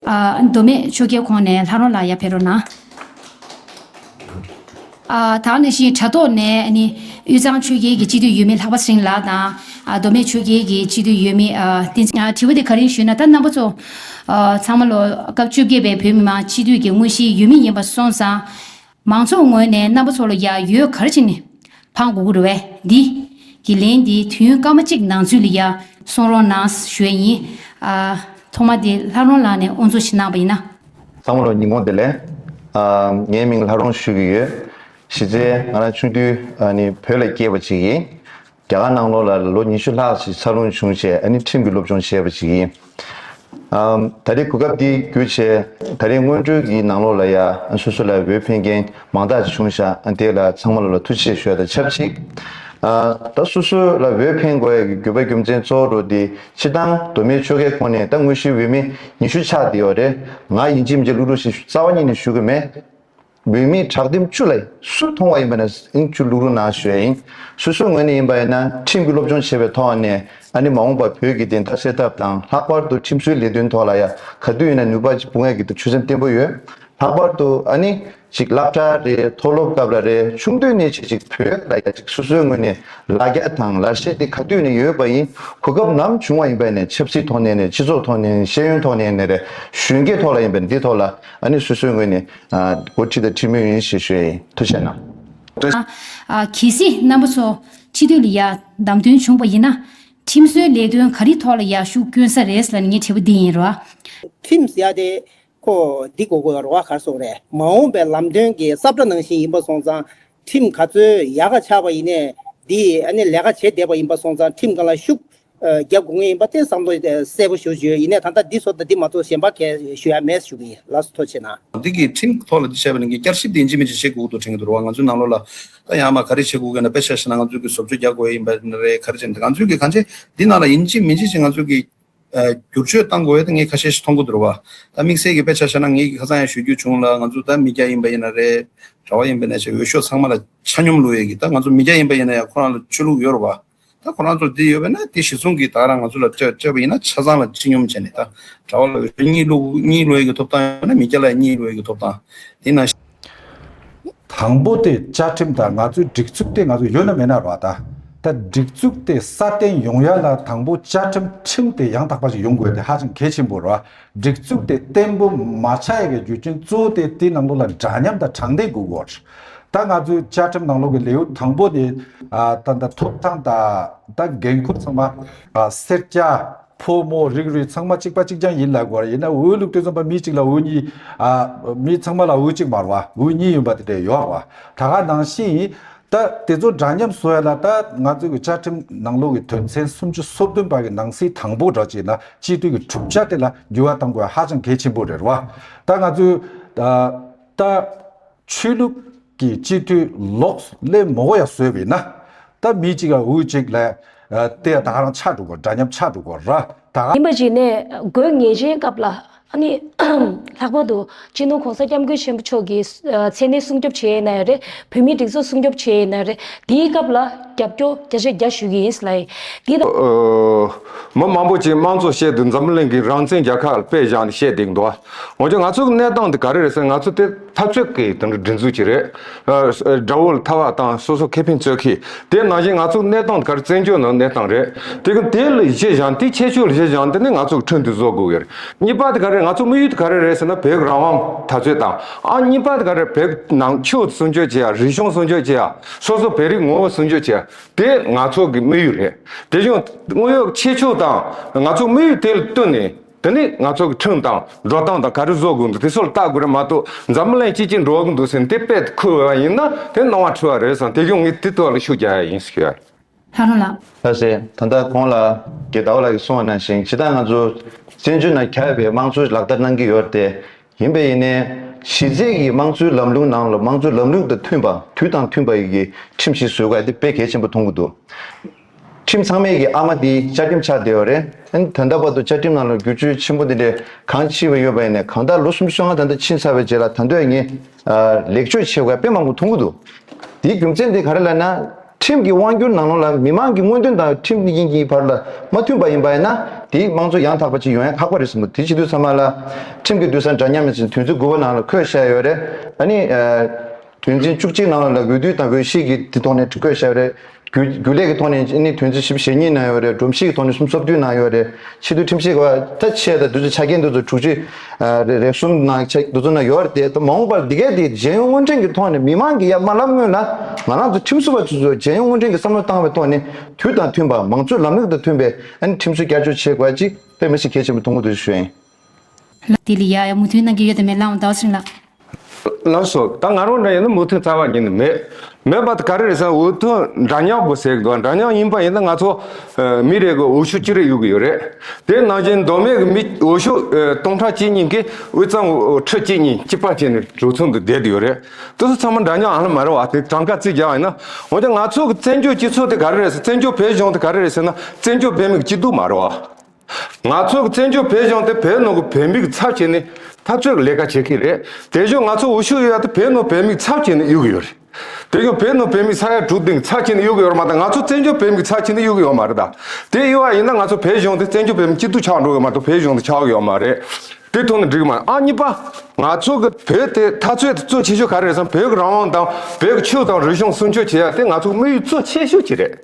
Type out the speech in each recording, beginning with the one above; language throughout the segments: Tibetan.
མདོ་སྨད་ཆོས་རྒྱལ་ཁོང་ནས་ལྷ་རོང་ལ་ཡར་ཕེབས་རོགས་གནང། ད་ནི་བཞིན་དྲ་ཐོག་ནས་ནི། དབུས་གཙང་ཆོས་རྒྱལ་གྱི་སྤྱི་འཐུས་ཡུལ་མི་ལྷག་པ་སེང་ལགས་དང། མདོ་སྨད་ཆོས་རྒྱལ་གྱི་སྤྱི་འཐུས་ཡུལ་མི་བསྟན་འཛིན། དྲི་བ་དེ་ག་རིང་ཞུས་ན་ད་རྣམ་པ་ཚོ། ཚང་མ་ལོ་སྐབས་བཅོ་བརྒྱད་པའི་བོད་མི་མང་སྤྱི་འཐུས་ཀྱི་དངོས་གཞིའི་ཡུལ་མི་ཡིན་པ་སོང་ཙང། མང་ཚོགས་ངོས་ནས་རྣམ་པ་ཚོ་ལ་ཡང་ཡོད་གར་ཅི་ནི། ཕང་གུ་གུ་རུ་བས་འདི། གི་ལན་འདི་དུས་ཡུན་སྐར་མ་གཅིག་ནང་ཚུད་ལ་ཡང་གསུང་རོགས་གནང་ཞོད་ཡིན། ཨ། ཐོག་མ་དེ་ལྷ་རོང་ལགས་ནས་ཨོ་འཚོ་བྱེད་གནང་བ་ཡིན་ན། ས་མོ་རོ་ཉིན་གོང་དེ་ལས། ཨ། ངའི་མིང་ལྷ་རོང་ཞུ་གི་ཡོད། གཞི་རྩའི་ང་རང་ཆུང་དུས་ནི་བོད་ལ་སྐྱེས་པ་ཅིག་ཡིན། རྒྱ་གར་ནང་ལོགས་ལ་ལོ་ཉི་ཤུ་ལྷག་ཞིག་འཚར་ལོངས་བྱུང་ཆེད་ཨ་ནི་ཁྲིམས་ཀྱི་སློབ་སྦྱོང་བྱས་པ་ཞིག་ཡིན། ད་རེས་གོ་སྐབས་འདི་བརྒྱུད་ཆེད་ད་རེས་སྔོན་འགྲོའི་གི་ནང་ལོགས་ལ་ཡ་སོ་སོ་ལ་འོས་འཕེན་མཁན་མང་དག་ཅིག་བྱུང་ཤག་དེ་ལ་ཚང་མ་ལོ་ལ་ཐུགས་ཆེ་ཞོལ་དང་ཆབས་ཅིག་ད་སོ་སོ་ལ་འོས་འཕེན་དགོས་ཡ་གི་རྒྱུ་བ་རྒྱུ་མཚན་གཙོ་བོ་འགྲོ་འདི་ཕྱི་དང་གདོད་མའི་ཆོལ་ཁའི་ཁོངས་ནས་ད་དངོས་གཞི་འོས་མི་ཉི་ཤུ་ཆགས་འདི་ཡོ་རེད་ང་ཡིན་གཅིག་མི་གཅིག་ལུག་ལུག་བཞིན་རྩ་བ་ཉིད་ནས་ཞུ་གི་མེད། བུད་མེད་དྲག་འདེམས་བཅུ་ལ་སུས་མཐོང་བ་ཡིན་པ་ན་ཨིན་བཅུ་ལུག་རུ་ན་ཞོལ་ཡིན་སོ་སོའི་ངོས་ནས་ཡིན་པ་ཡིན་ན་ཁྲིམས་ཀྱི་སློབ་སྦྱོང་བྱས་པའི་ཐོག་ནས་ཨ་ནི་མ་འོངས་པར་བོད་ཀྱི་བདེན་མཐའ་གསལ་ཐབས་དང་ལྷག་པར་དུ་ཁྲིམས་བཟོའི་ལས་དོན་ཐོག་ལ་ཡང་ག་དུས་ཡིན་ན་ནུས་པ་ཅིག་འབུངས་ཡ་གི་འདུག་ཆོད་སེམས་བརྟན་པོ་ཡོད་ལྷག་པར་དུ་ཨ་ནི་ཅིག་བསླབ་གྲྭ་རེ་མཐོ་སློབ་སྐབས་ལ་རེ་ཆུང་དུས་ནས་བྱེད་ཅིག་བོད་ལ་ཡ་ཅིག་སོ་སོའི་ངོས་ནས་ལ་རྒྱ་དང་ལ་ཤེས་དེ་ག་དུས་ནས་ཡོད་པ་ཡིན་གོ་སྐབས་ནམ་བྱུང་བ་ཡིན་པ་ཡིན་ནས་ཆབ་སྲིད་ཐོག་ནས་ནས་སྤྱི་ཚོགས་ཐོག་ནས་ནས་ཤེས་ཡོན་ཐོག་ནས་ནས་རེ་གཞོན་སྐྱེས་ཐོག་ལ་ཡིན་པ་ནས་འདི་ཐོག་ལ་ཨ་ནི་སོ་སོའི་ངོས་ནས་སྒོར་ཁྲི་དང་ཁྲི་མོ་ཡིན་ཞེས་ཞུས་ཡིན་ཐུ་བཤད་གནང། ཨ། གལ་སྲིད་རྣམ་པ་ཚོ་ཁྲི་འདོད་ལ་ཡ་བདམས་དོན་བྱུང་པ་ཡིན་ན། ཁྲིམས་བཟོའི་ལས་དོན་ག་རི་ཐོག་ལ་ཡ་ཤུགས་བསྐྱོན་ས་རེད་ལ་ངས་དྲི་བ་འདི་ཡིན་རོགས། ཁྲིམས་ཡ་དེ། ཁོ་འདི་གོ་གོ་རོགས་གར་སོང་རེད་མ་འོངས་པའི་ལམ་སྟོན་གྱི་གསབ་སྒྲ་ནང་བཞིན་ཡིན་པ་སོང་ཙང་ཁྲིམས་ག་ཚོད་ཡག་ག་ཆགས་པ་ཡིན་ནས་འདིས་ཨ་ནི་ལས་ཀ་བྱེད་བསྡད་པ་ཡིན་པ་སོང་ཙང་ཁྲིམས་གང་ལ་ཤུགས་རྒྱབ་དགོས་ངེས་ཡིན་པ་བསྟན་བསམ་བློ་གསལ་པོ་ཞུ་བརྗོད་ཡིན་ནས་ད་ལྟ་འདི་བཟོ་དང་འདི་མ་བཟོ་གཞན་པ་གས་ཞུ་ཡ་མེད་ཞུ་གི་ཡིན་ལགས་སོ་ཐོ་ཆེ་ན། འདི་གི་ཁྲིམས་ཐོག་ལ་འདི་བྱས་པ་ནི་གི་བསྐྱར་ཞིབ་འདི་འཇིག་མི་འཇིག་བྱེད་དགོས་དགོས་འདུག་དྲན་གི་འདུག་རོགས་ང་ཚོའི་ནང་ལོག་ལ་ད་ཡང་མ་ག་རེ་བྱེད་དགོས་གི་འདུག་དཔེ་ཆ་ཞིག་ན་ང་ཚོས་གི་བཟོ་བཅོས་རྒྱག་དགོས་ཡ་ཡིན་པ་རེད་ག་རེ་བྱེད་འདུག་ང་ཚོས་གི་ག་འདྲེ་འདི་ནང་ལ་ཡིན་འཇིག་མི་འཇིག་བྱེད་ང་ཚོས་གི། བསྒྱུར་བཅོས་གཏང་དགོས་ངས་ཁ་ཤས་ཤིག་མཐོང་གི་འདུག་རེད་བ། ད་དམིགས་བསལ་གྱི་དཔེ་ཆ་ཤར་ན་ངས་ཁ་ཚང་ཡང་ཞུ་རྒྱུ་བྱུང་ལ་ང་ཚོ་ད་མི་བརྒྱ་ཡིན་པ་ཡིན་ན་རེད་ར་བ་ཡིན་པའི་ནས་ཆེ་འོས་ཤོག་ཚང་མ་ལ་ཆ་སྙོམས་ལུགས་ཡོད་གི་ད་ང་ཚོ་མི་བརྒྱ་ཡིན་པ་ཡིན་ན་ཡང་ཁོ་རང་ལ་ཆོས་ལུགས་ཡོད་ར་བ། ད་ཁོ་རང་ཚོར་དེ་ཡོད་པས་ན་དེ་གཞི་བཟུང་གི་ད་རང་ང་ཚོ་ལ་སྤྲད་སྤྲད་པ་ཡིན་ན་ཆ་ཚང་ལ་ཆེ་སྙོམས་བྱས་ནས་ད་ར་བ་ལ་འོས་ཤོག་གཉིས་ལུགས་གཉིས་ལུས་ཡོད་གི་ཐོབ་ཐང་ཡོད་པས་ན་མི་བརྒྱ་ལ་ཡང་གཉིས་ལུས་ཡོད་གི་ཐོབ་ཐང་དེ་ན། དང་པོ་དེ་བཅའ་ཁྲིམས་དང་ང་ཚོའི་སྒྲིག་ཚུགས་དེ་ང་ཚོ་ཡོད་ན་མེད་ན་ར་ད། ད་སྒྲིག་ཚུགས་དེ་སྲ་བརྟན་ཡོང་ཡ་ལ་དང་པོ་བཅའ་ཁྲིམས་ཁྲིམས་དེ་ཡང་དག་པ་ཞིག་ཡོང་དགོས་དེ་ཧ་ཅང་གལ་ཆེན་པོ་ར། སྒྲིག་ཚུགས་དེ་བརྟན་པོ་མ་ཆགས་ཡ་གི་རྒྱུ་རྐྱེན་གཙོ་བོ་དེ་དེའི་ནང་ལོགས་ལ་འདྲ་མཉམ་དང་དྲང་བདེན་དགོས་དགོས་ར། ད་ང་ཚོའི་བཅའ་ཁྲིམས་ནང་ལོགས་ཀྱི་ལེའུ་དང་པོ་དེ། ད་ཐོབ་ཐང་དང་ད་འགན་འཁུར་ཚང་མ། སེར་སྐྱ། ཕོ་མོ་རིགས་རུས་ཚང་མ་གཅིག་པ་གཅིག་རྐྱང་ཡིན་ལབ་དགོས་པ་ཡིན་ན་འོས་བླུགས་དུས་ཚང་མ་མི་གཅིག་ལ་འོས་གཉིས། མི་ཚང་མ་ལ་འོས་གཅིག་མར་བ་འོས་གཉིས་ཡོད་པ་དེ་འདྲས་ཡོག་བ་ད་ག་ནང་བཞིན་ཡིན། ད་དེ་ཚོ་འདྲ་མཉམ་བཟོ་ཡ་ལ་ད་ང་ཚོའི་གི་བཅའ་ཁྲིམས་ནང་ལོག་གི་དོན་ཚན་སུམ་ཅུ་སོ་བདུན་པ་གི་ནང་གསེས་དང་པོ་འདྲ་བྱས་ན་སྤྱི་འཐུས་ཀྱི་གྲུབ་ཆ་དེ་ལ་འགྱུར་བ་གཏང་དགོས་པ་ཧ་ཅང་གལ་ཆེན་པོ་རེད་རེད་བ། ད་ང་ཚོའི། ད། ཆོས་ལུགས་ཀྱི་སྤྱི་འཐུས་ལོག་སླེབས་མོ་ཡ་བཟོས་བས་ན་ད་མི་གཅིག་ལ་འུ་གཅིག་ལས་དེ་ད་རང་ཆགས་འགྲོ་གི་འདྲ་སྙམ་ཆགས་འགྲོ་གི་ར་ད་ག། ཡིན་པ་ཞིག་ནས་དགོས་ངེས་ཅན་སྐབས་ལ་ནི་ལྷག་པར་དུ་སྤྱི་ནོར་གོང་ས་སྐྱབས་མགོན་ཆེན་པོ་མཆོག་གི་མཚན་གནས་སྲུང་སྐྱོབ་བྱེད་ཡས་ན་ཡང་རེད་བོད་མིའི་སྒྲིག་འཛུགས་སྲུང་སྐྱོབ་བྱེད་ཡས་ན་རེད་དེའི་སྐབས་ལ་རྒྱབ་སྐྱོ་བརྒྱ་ཆ་བརྒྱ་ཞུ་གི་ཡིན་སླ་ཡི་དེ་ད། མི་མང་པོ་ཅིག་དམངས་གཙོ་བཤད་དུས་འཛམ་གླིང་གི་རང་བཙན་རྒྱལ་ཁག་ལ་དཔེ་བཞག་ནས་བཤད་འདེགས་འདུག་འོན་ཀྱང་ང་ཚོའི་གནས་སྟངས་འདི་ག་རེ་རེད་ཟེར་ན་ང་ཚོ་དེ་འཐབ་རྩོད་ཀྱི་དེ་འདྲ་སྒྲིག་འཛུགས་ཀྱི་རེད། དགྲ་བོ་ལ་ཐར་བ་དང་སོ་སོ་ཁེ་ཕན་རྩོད་ཁི། དེ་ནང་བཞིན་ང་ཚོ་གནས་སྟངས་འདི་གར་བཙན་བྱོལ་ནང་གནས་སྟངས་རེད། དེ་གི་དེ་ལ་གཞི་བཞག་འདི་ཁྱད་ཆོས་ལ་གཞི་བཞག་འདི་ནི་ང་ཚོ་གི་ཁྲོད་འདི་བཟོ་དགོས་གི་རེད། གཉིས་པ་དེ་ག་རེད་ང་ཚོ་དམིགས་ཡུལ་དེ་ག་རེ་རེད་ཟེར་ན་བོད་རང་དབང་ད་རྩོད་དང་ཨང་གཉིས་པ་དེ་ག་རེད་བོད་ནང་ཆོས་སྲུང་སྐྱོབ་བྱེད་ཡ་རིག་གཞུང་སྲུང་སྐྱོབ་བྱེད་ཡ་སོ་སོ་བོད་རིགས་ངོ་བོ་སྲུང་སྐྱོབ་བྱེད་ཡ་དེ་ང་ཚོ་གི་དམིགས་ཡུལ་རེད། དེ་བཞིན་དངོས་ཡོད་ཁྱད་ཆོས་དང་ང་ཚོ་དམིགས་ཡུལ་དེ་ལ་བསྟུན་ནས་དེ་ནི་ང་ཚོ་གི་ཁྲིམས་དང་འགྲོ་སྟངས་དང་ག་རེ་བཟོ་དགོས་འདུག་དེ་སོགས་ལ་ལྟ་དགོས་རེད་མ་གཏོགས་འཛམ་གླིང་སྤྱི་གཅིག་འགྲོ་གི་འདུག་ཟེར་ནས་དེ་དཔེ་ཁུར་བའི་བ་ཡིན་ན་དེ་སྣང་བ་འཁྲུལ་བ་རེད་བསམ་དེ་བཞུགས་ངས་དེ་ཐོག་ལ་ཤུགས་རྒྱག་ཡ་ཡིན་ཟེར་གྱི། ལྷ་རོང་ལགས། ལྷ་སྲས་ད་ལྟ་གོང་ལ་རྒྱལ་དྭོགས་ལགས་ཀྱིས་གསུངས་བ་ནང་བཞིན་ཇི་ལྟར་ང་ཚོ་བཙན་བྱོལ་ནང་གྱར་བའི་དམངས་གཙོ་ལག་བསྟར་གནང་གི་ཡོད་དེ་ཡིན་པས་ཡིན་ནའི་གཞི་རྩའི་གི་དམངས་གཙོའི་ལམ་ལུགས་ནང་ལ་དམངས་གཙོའི་ལམ་ལུགས་དང་མཐུན་པ་དུས་དང་མཐུན་པ་ཡི་གི་ཁྲིམས་ཤིག་བཟོས་དགོས་ཡ་དེ་དཔེ་གལ་ཆེན་པོ་མཐོང་གི་འདུག། ཁྲིམས་ཚང་མེད་ཀྱི་ཨ་མ་འདིས་བཅའ་ཁྲིམས་ཆགས་བསྡད་པ་རེད། དོན་དམ་པར་དུ་བཅའ་ཁྲིམས་ནང་ལ་བསྒྱུར་བཅོས་ཆེན་པོ་འདི་འདྲའི་གང་ཅི་བས་ཡོད་པ་ཡིན་ནས་གང་ལྟར་ལོ་གསུམ་བཅོ་ལྔ་ད་ལྟ་ཕྱིན་ཚར་བའི་རྗེས་ལ་ད་འདོད་ངས་ལེགས་བཅོས་བྱེད་དགོས་པ་དཔེ་མང་པོ་མཐོང་གི་འདུག་དེའི་རྒྱུ་མཚན་དེ་ག་རེ་ལ་ན། ཁྲིམས་ཀྱི་དབང་བསྒྱུར་ནང་ལོགས་ལ་མི་མང་གི་མངོན་འདོན་དང་ཁྲིམས་དབྱིངས་ཀྱི་བར་ལ་མ་མཐུན་པ་ཡིན་པ་ཡིན་ན་དེས་དམངས་གཙོ་ཡང་དག་པ་ཅིག་ཡོང་ཡ་ཁག་པ་རེད་བསམ་མོད་དེ་ཕྱི་དུས་ཚང་མ་ལ་ཁྲིམས་ཀྱི་དུས་སང་འདྲ་མཉམ་ཡིན་ཟེར་དུས་ཚོད་དགུ་པ་ནང་ལ་ཁོས་བཤད་ཡོད་རེད། ཨ་ནི། དོན་ཚན་བཅུ་གཅིག་ནང་ལ་ལ་འོས་བསྡུ་དང་འོས་གཞིས་ཀྱི་དེ་ཐོག་ནས་བཀོད་བཤད་རེད། རྒྱུ་རྒྱུ་ལས་ཀྱི་ཐོག་ནས་ནི་དོན་ཚན་ཞིབ་ཞེ་གཉིས་ནང་ཡོད་རེད་སྒྲོམ་གཞིས་ཀྱི་ཐོག་ནས་གསུམ་སོ་བདུན་ནང་ཡོད་རེད་ཕྱི་བསྡུ་ཁྲིམས་ཞིབ་ད་ཆའི་ད་དུས་ཆ་རྐྱེན་འདུ་ཚོད་དྲུག་ཅུ་རེ་གསུམ་ནང་ཆ་འདུ་ཚོད་ནང་ཡོད་རེད་དེ་མ་འོངས་པར་འདི་གའི་དེ་རྒྱལ་ཡོངས་དངུལ་འཕྲིན་གྱི་ཐོག་ནས་མི་མང་གི་ཡ་མ་ལབ་སྔོན་ལ་ང་རང་ཚོ་ཁྲིམས་བཟོ་བ་ཚོས་རྒྱལ་ཡོངས་དངུལ་འཕྲིན་གྱི་བསམ་བློ་བཏང་བའི་ཐོག་ནས་དུས་དང་མཐུན་པར་མང་གཙོའི་ལམ་ལུགས་དང་མཐུན་པའི་ཁྲིམས་སྲོལ་བསྐྱར་བཅོས་བྱེད་དགོས་ཅེས་པའི་མི་ཞིག་གལ་ཆེན་པོ་ཐུགས་མགོ་འདོན་བཞིན་ཞུ་ཡིན། དེ་ལས་ཡ་ཡ་མུ་མཐུད་གནང་གི་ཡོད་དམ་མེད་ལའང་བདག་ཞིང་ལ། ལར་སོ། ད་ང་རང་འདྲ་ཡིན་ན་མུ་མཐུད་རྩ་བ་ཉིད་ནས་མེད། མེད་པ་དེ་ག་རེ་རེད་བསམ་འུ་ཐུག་འདྲ་ཉག་པོ་ཟེར་གི་འདུག་འདྲ་ཉག་ཡིན་པ་ཡིན་ན་ང་ཚོ་མི་རེ་གི་འུ་ཤུ་གཅིག་རེ་ཡོད་ཀྱི་ཡོད་རེད། དེ་ནང་བཞིན་མདོ་སྨད་ཀྱི་མི་འུ་ཤུ་སྟོང་ཕྲག་གཅིག་གཉིས་ཀྱིས་དབུས་གཙང་ཁྲི་གཅིག་གཉིས་གཅིག་པ་བྱས་ནས་གྲོས་ཚོགས་འདི་བསྡད་དུ་ཡོད་རེད། དེ་ཚོ་ཚང་མ་འདྲ་ཉག་ཨ་ལ་མ་རེད་བ་དེ་གྲངས་ཀ་རྩིས་རྒྱག་ཡིན་ན། འོན་ཀྱང་ང་ཚོ་གི་བཙན་བྱོལ་སྤྱི་ཚོགས་དེ་ག་རེ་རེད་བསམ་བཙན་བྱོལ་བོད་གཞུང་དེ་ག་རེ་རེད་ཟེར་ན་བཙན་བྱོལ་བོད་མི་གཅིག་སྡུག་མ་རེད་བ། ང་ཚོས་བཙན་བྱོལ་བོད་གཞུང་དེ་བོད་ནང་གི་བོད་མིག་ཚབ་བྱས་ནས་འཐབ་རྩོད་ཀྱི་ལས་ཀ་བྱེད་ཀྱི་རེད། དེ་བཞིན་ང་ཚོ་འུ་ཤུ་ཡོད་ཡ་དེ་བོད་ནང་བོད་མིག་ཚབ་བྱས་ནས་གཡུག་གི་ཡོད་རེད། དེ་བཞིན་བོད་ནང་བོད་མིག་ས་ཡ་དྲུག་སྟེང་ཚབ་བྱས་ནས་གཡུག་གི་ཡོད་རེད་མ་གཏོགས་ང་ཚོ་བཙན་བྱོལ་བོད་མིག་ཚབ་བྱས་ནས་གཡུག་གི་ཡོད་མ་རེད་ད། དེ་གཡུག་བ་ཡིན་ན་ང་ཚོ་བོད་གཞུང་དེ་བཙན་བྱོལ་བོད་མིའི་སྐྱིད་སྡུག་ཆགས་འགྲོ་གི་མ་གཏོགས་བོད་གཞུང་དེ་ཆགས་གི་ཡོད་མ་རེད། དེ་ཐོག་ནས་འགྲིག་མ་ཨང་གཉིས་པ། ང་ཚོ་གི་བོད་དེ་འཐབ་རྩོད་དེ་གཙོ་ཆེ་ཤོས་ག་རེ་རེད་བསམ་བོད་ཀྱི་རང་དབང་དང་བོད་ཀྱི་ཆོས་དང་རིག་གཞུང་སྲུང་སྐྱོབ་བྱེད་ཡ་དེ་ང་ཚོ་དམིགས་ཡུལ་གཙོ་ཆེ་ཤོས་ཀྱི་རེད།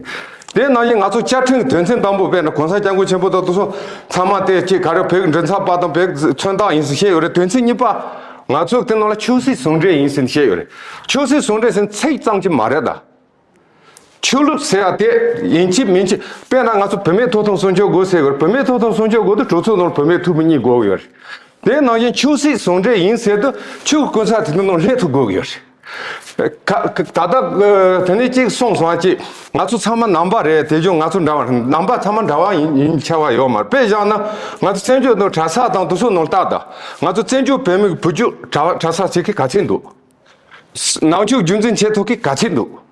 དེ་རྣམས་ཀྱིས་ང་ཚོ་བཅའ་ཁྲིམས་དོན་ཚན་དང་པོ་དཔེར་ན་གོང་ས་སྐྱབས་མགོན་ཆེན་པོ་དང་དུ་སོང་ཚང་མ་དེ་སྐྱིད་ག་རེ་བོད་མགྲིན་ཚབ་པ་དང་བོད་མཚོན་རྟགས་ཡིན་ཟིན་བཤད་ཡོད་རེད་དོན་ཚན་གཉིས་པ། ང་ཚོ་དེ་རྣམས་ལ་ཆོས་སྲིད་ཟུང་འབྲེལ་ཡིན་ཟིན་བཤད་ཡོད་རེད་ཆོས་སྲིད་ཟུང་འབྲེལ་ཟིན་ཚིག་ཙམ་གྱིས་མ་རེད་ད། ཆོས་ལུགས་ཟེར་ཡ་དེ་ཡིན་གྱི་མིན་གྱི་དཔེར་ན་ང་ཚོ་བུད་མེད་ཐོབ་ཐང་སྲུང་སྐྱོབ་དགོས་ཟེར་ཡོད་རེད་བུད་མེད་ཐོབ་ཐང་སྲུང་སྐྱོབ་དགོས་དུས་གྲོས་ཚོགས་ནང་བུད་མེད་ཐུ་བུ་གཉིས་དགོས་ཡོད་རེད་དེ་ནང་བཞིན་ཆོས་སྲིད་ཟུང་འབྲེལ་ཡིན་ཟེར་དུས་ཆོས་སྐུ་ཚ་དེ་དེ་ནང་སླེབས་ཐུབ་དགོས་ཡོད་རེད། ད་ལྟ་དེ་ནས་གཅིག་གསུངས་སོང་ཨ་ཅེ། ང་ཚོ་ཚང་མ་ནང་པ་རེད་དེ་བཞིན་ང་ཚོ་འདྲ་བ་ནང་པ་ཚང་མ་འདྲ་བ་ཡིན་ཆ་བ་ཡོད་མ་རེད་དཔེ་བཞག་ན་ང་ཚོ་བཙན་བྱོལ་ནང་གྲྭ་ས་དང་དུ་སུ་ནང་བལྟ་ད་ང་ཚོ་བཙན་བྱོལ་བོད་མི་བུ་རྒྱུད་གྲྭ་ས་བྱེད་ཀི་ག་ཚད་འདུག་ནང་ཆོས་རྒྱུན་འཛིན་བྱེད་ཐུབ་ཀི་ག་ཚད་འདུག།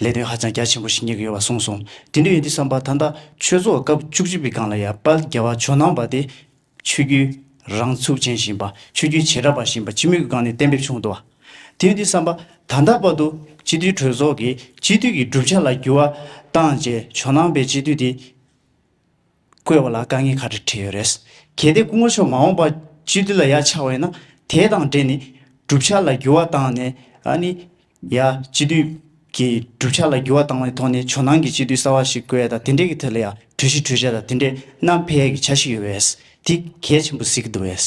ལས་དོན་ཧ་ཅང་རྒྱ་ཆེན་པོ་ཞིག་གཉེར་གྱི་ཡོད་པ་གསུངས་སོང། དེ་འདྲ་ཡིན་དུས་བསམ་པ་ད་ལྟ་ཆོས་ཚོགས་སྐབས་བཅུ་གཅིག་པའི་སྒང་ལ་ཡར་དཔལ་རྒྱལ་བ་ཇོ་ནང་པ་དེ་ཆོས་བརྒྱུད་རང་ཚུགས་ཅན་བཞིན་པ་ཆོས་བརྒྱུད་བྱེ་བྲག་པ་བཞིན་པ་སྤྱི་མོས་ཀྱི་སྒང་ནས་གཏན་འབེབས་བྱུང་འདུག་དེ་ཡིན་དུས་བསམ་པ་ད་ལྟ་བར་དུ་སྤྱི་འཐུས་གྲོས་ཚོགས་ཀྱིས་སྤྱི་འཐུས་ཀྱི་གྲུབ་ཆ་ལ་འགྱུར་བ་བཏང་རྗེས་ཇོ་ནང་པའི་སྤྱི་འཐུས་དེ། བཀོལ་བ་ལ་དཀའ་ངལ་ཁག་དྲི་འཕྲད་ཡོད་རེད། གལ་ཏེ་སྐུ་ངོ་མཆོག་མ་འོངས་པ་སྤྱི་འཐུས་ལ་ཡ་ཆ་བས་ན་དེ་དང་འབྲེལ་ནས་གྲུབ་ཆ་ལ་འགྱུར་བ་བཏང་ནས་ཨ་ནི། ཡ་སྤྱི་འཐུས་ཀྱི་གྲུབ་ཆ་ལ་འགྱུར་བ་བཏང་བའི་ཐོག་ནས་ཇོ་ནང་གི་སྤྱི་འཐུས་གསར་བ་ཞིག་བཀོལ་ཡ་དང་དེ་འབྲེལ་གྱི་ཐད་ལ་ཡ་གྲོས་ཞིག་གྲོས་བྱ་དང་དེ་འབྲེལ་གནམ་འཕེལ་ཡ་གྱི་ཆ་ཞིག་ཡོད་པས་དེ་གལ་ཆེན་པོ་གཟིགས་གི་འདུག་བས།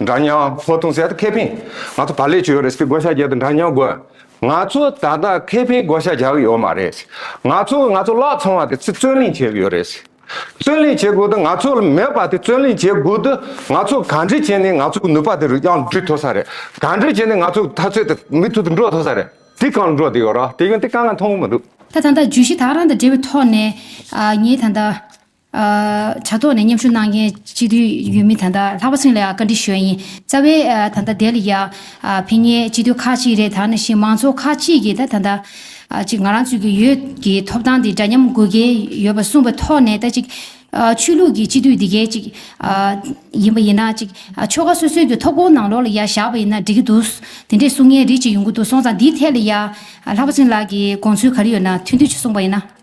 འདྲ་མཉམ་ཧོ་ཐུང་ཟེར་ད་ཁེ་ཕིན་ང་ཚོ་བར་ལས་བྱོལ་ཡོད་རེད་སྤི་བགོ་བཤའ་རྒྱག་ད་འདྲ་མཉམ་དགོས་ང་ཚོ་ད་ད་ཁེ་ཕིན་བགོ་བཤའ་རྒྱག་ཡོད་མ་རེད་ང་ཚོ་ང་ཚོ་བརླག་ཚང་བ་དེ་ཚི་བརྩོན་ལེན་བྱེད་ཡོད་རེད་བརྩོན་ལེན་བྱེད་དགོས་ད་ང་ཚོ་ལ་མེད་པ་དེ་བརྩོན་ལེན་བྱེད་དགོས་ད་ང་ཚོ་ག་འདྲི་བྱས་ནས་ང་ཚོ་གི་ནུས་པ་དེ་རུ་དབྱང་བསྒྲུད་ཐོ་ས་རེད་ག་འདྲི་བྱས་ནས་ང་ཚོ་ད་ཚོད་དེ་མི་ཐུ་དེ་འགྲོ་ཐོ་ས་རེད་དེ་གང་འགྲོ་དེ་ཡོད་ར་དེ་ཡོད་དེ་གང་གང་མཐོང་གི་མི་འདུག། ད་ད་ད་བརྗོད་གཞི་དག་རང་དང་འབྲེལ་བའི་ཐོག་ནས་ངས་ད་ད། དྲ་ཐོག་ནས་མཉམ་ཞུགས་གནང་མཁན་སྤྱི་འཐུས་ཡུལ་མི་ད་ལྟ་ལྷག་པ་སེང་ལ་ཡང་བཀའ་འདྲི་ཞུ་ཡ་ཡིན། རྩ་བའི་ད་ལྟ་དེ་ལ་ཡང་ཕན་ངེས་སྤྱི་འཐུས་ཁག་ཅིག་རེད་ད་ནང་བཞིན་མང་ཚོགས་ཁག་ཅིག་གིས་ད་ད་ལྟ་ཅིག་ང་རང་ཚོས་ཀྱི་ཡོད་ཀྱི་ཐོབ་ཐང་དེ་འདྲ་མཉམ་དགོས་ཀྱི་ཡོད་པ་གསུངས་པའི་ཐོག་ནས་ད་ཅིག་ཆོས་ལུགས་ཀྱི་སྤྱི་འཐུས་དེ་གའི་ཅིག་ཡིན་པ་ཡིན་ན་ཅིག་ཆོལ་ཁ་སོ་སོའི་ཀྱི་ཐོབ་གོང་ནང་ལོགས་ལ་ཡང་བཞག་པ་ཡིན་ན་འགྲིག་གི་འདུག་དེ་འདྲས་གསུང་མཁན་རིགས་ཅིག་ཡོང་གི་འདུག་སོང་ཙང་འདིའི་ཐད་ལ་ཡང་ལྷག་པ་སེང་ལགས་ཀྱི་དགོངས་ཚུལ་ག་རེ་ཡོད་ན་ཐུགས་འདོད་ཅིག་གསུངས་པ་ཡིན་ན།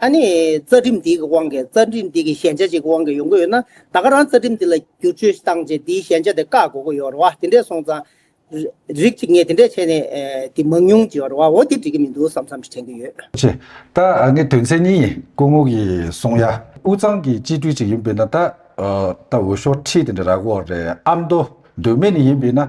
ཨ་ནི། རྩ་ཁྲིམས་འདིའི་གི་དབང་གིས་རྩ་ཁྲིམས་འདི་གི་ཞན་ཆ་ཅིག་གི་དབང་གིས་ཡོང་གི་ཡོད་ན། ད་ག་རང་རྩ་ཁྲིམས་འདི་ལ་བསྒྱུར་བཅོས་བཏང་རྗེས་འདིའི་ཞན་ཆ་དེ་བཀག་དགོས་ཀི་ཡོད་རེད་བ། དེ་འདྲས་སོང་ཙང། རིགས་གཅིག་ངས་དེ་འདྲས་བྱས་ནས། དེ་མང་ཉུང་ཅིག་ཡོད་རེད་བ། འོ་དེ་འགྲིག་གི་མི་འདུག་བསམ་བསམ་དྲན་གི་ཡོད། ཅེས། ད་ཨ་ནི་དོན་ཚན་གཉིས་ཡིན་སྐུ་ངོ་གིས་གསུངས། ཡ། དབུས་གཙང་གི་སྤྱི་འཐུས་ཅིག་ཡིན་པས་ན་ད། ད་འོས་ཤོག་ཁྲི་དེ་འདྲ་རག་གོ་རེད་ཨ་མདོ། འདོད་མེད་ནས་ཡིན་པས་ན།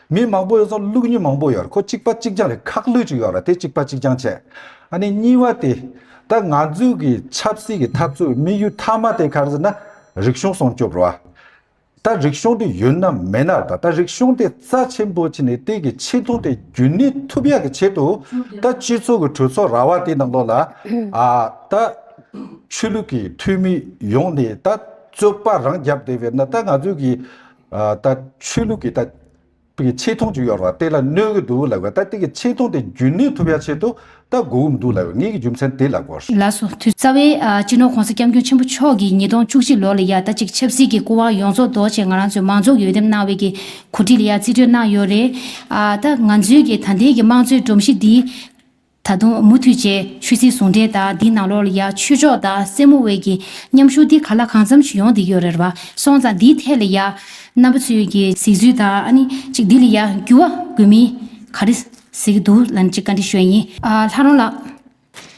མི་མང་པོ་ཡོད་ཙང་ལུག་གཉིས་མང་པོ་ཡོད་རེད་ཁོ་གཅིག་པ་གཅིག་རྐྱང་རེད་ཁག་ལུག་ཅིག་ཡོད་རེད་དེ་གཅིག་པ་གཅིག་རྐྱང་བྱས། ཨ་ནི་གཉིས་བ་དེ། ད་ང་ཚོའི་གི་ཆབ་སྲིད་ཀྱི་འཐབ་རྩོད་དམིགས་ཡུལ་མཐའ་མ་དེ་གར་ཟེར་ན་རིག་གཞུང་སྲོང་སྐྱོབ་རུ་ཨ། ད་རིག་གཞུང་དེ་ཡོད་ན་མེད་ན་རེད་ད་རིག་གཞུང་དེ་རྩ་ཆེན་པོ་ཆེ་ནི་དེ་གི་ཆེ་མཐོང་དེ་རྒྱུན་གནས་ཐུབ་ཡག་གི་ཆེད་དུ་ད་སྤྱི་ཚོགས་ཀྱི་གྲོས་ཚོགས་ར་བ་དེ་ནང་ལོགས་ལ་ཨ། ད་ཆོས་ལུགས་ཀྱི་འཐུས་མི་ཡོང་ནས་ད་རྩོད་པ་རང་རྒྱབ་དེ་བས་ན་ད་ང་ཚོའི་གི། ད་ཆོས་ལུགས་ཀྱི་ད་ཏིག་ཆེ་མཐོང་ཅིག་ཡོད་རེད་བ་དེ་ལ་གནོད་གི་འདུག་ལབ་གི་ད་ཏིག་ཆེ་མཐོང་དེ་རྒྱུན་གནས་ཐུབ་ཡ་ཆེད་དུ་ད་དགོས་གི་མི་འདུག་ལབ་ངེད་ཀྱི་རྒྱུ་མཚན་དེ་ལབ་དགོས། ལ་སོ་དུས་རྩ་བའི་སྤྱི་ནོར་གོང་ས་སྐྱབས་མགྱོགས་ཆེན་པོ་མཆོག་གིས་ཉིས་སྟོང་བཅུ་གཅིག་ལོ་ལ་ཡ་ད་ཅིག་ཆབ་སྲིད་ཀྱི་སྐུ་དབང་ཡོངས་རྫོགས་ལྡོག་ཆེད་ང་རང་ཚོའི་མང་ཚོགས་ཀྱི་འོས་འདེམས་གནང་བའི་གི་གོ་སྒྲིག་ལ་ཡ་རྩིས་སྤྲོད་གནང་ཡོད་རེད། ད་ང་ཚོའི་གི་ད་ལྟའི་གི་དམངས་གཙོའི་སྒྲོམ་གཞི་འདི། ད་དུང་མུ་མཐུད་བཅས་ཆོས་སྲིད་ཟུང་འབྲེལ་དང་དེའི་ནང་ལོགས་ལ་ཡང་ཆོས་ཕྱོགས་དང་སེར་མོ་དབུས་ཀྱི་མཉམ་ཞུགས་དེ་ག་ལ་གང་འཚམ་ཞིག་ཡོང་བསྡད་ཡོད་རེད་བ་སོང་ཙང་དེའི་ཐད་ལ་ཡང་རྣམ་པ་ཚོས་ཀྱི་གཟིགས་ཚུལ་དང་ཨ་ནི་ཅིག་དེ་ལ་ཡང་འགྱུར་བ་དགོས་མིན་ག་རེ་གཟིགས་འདུག་ལ་ནི་ཅིག་བཀའ་འདྲི་ཞུ་ཡ་ཡིན། ལྷ་རོང་ལགས།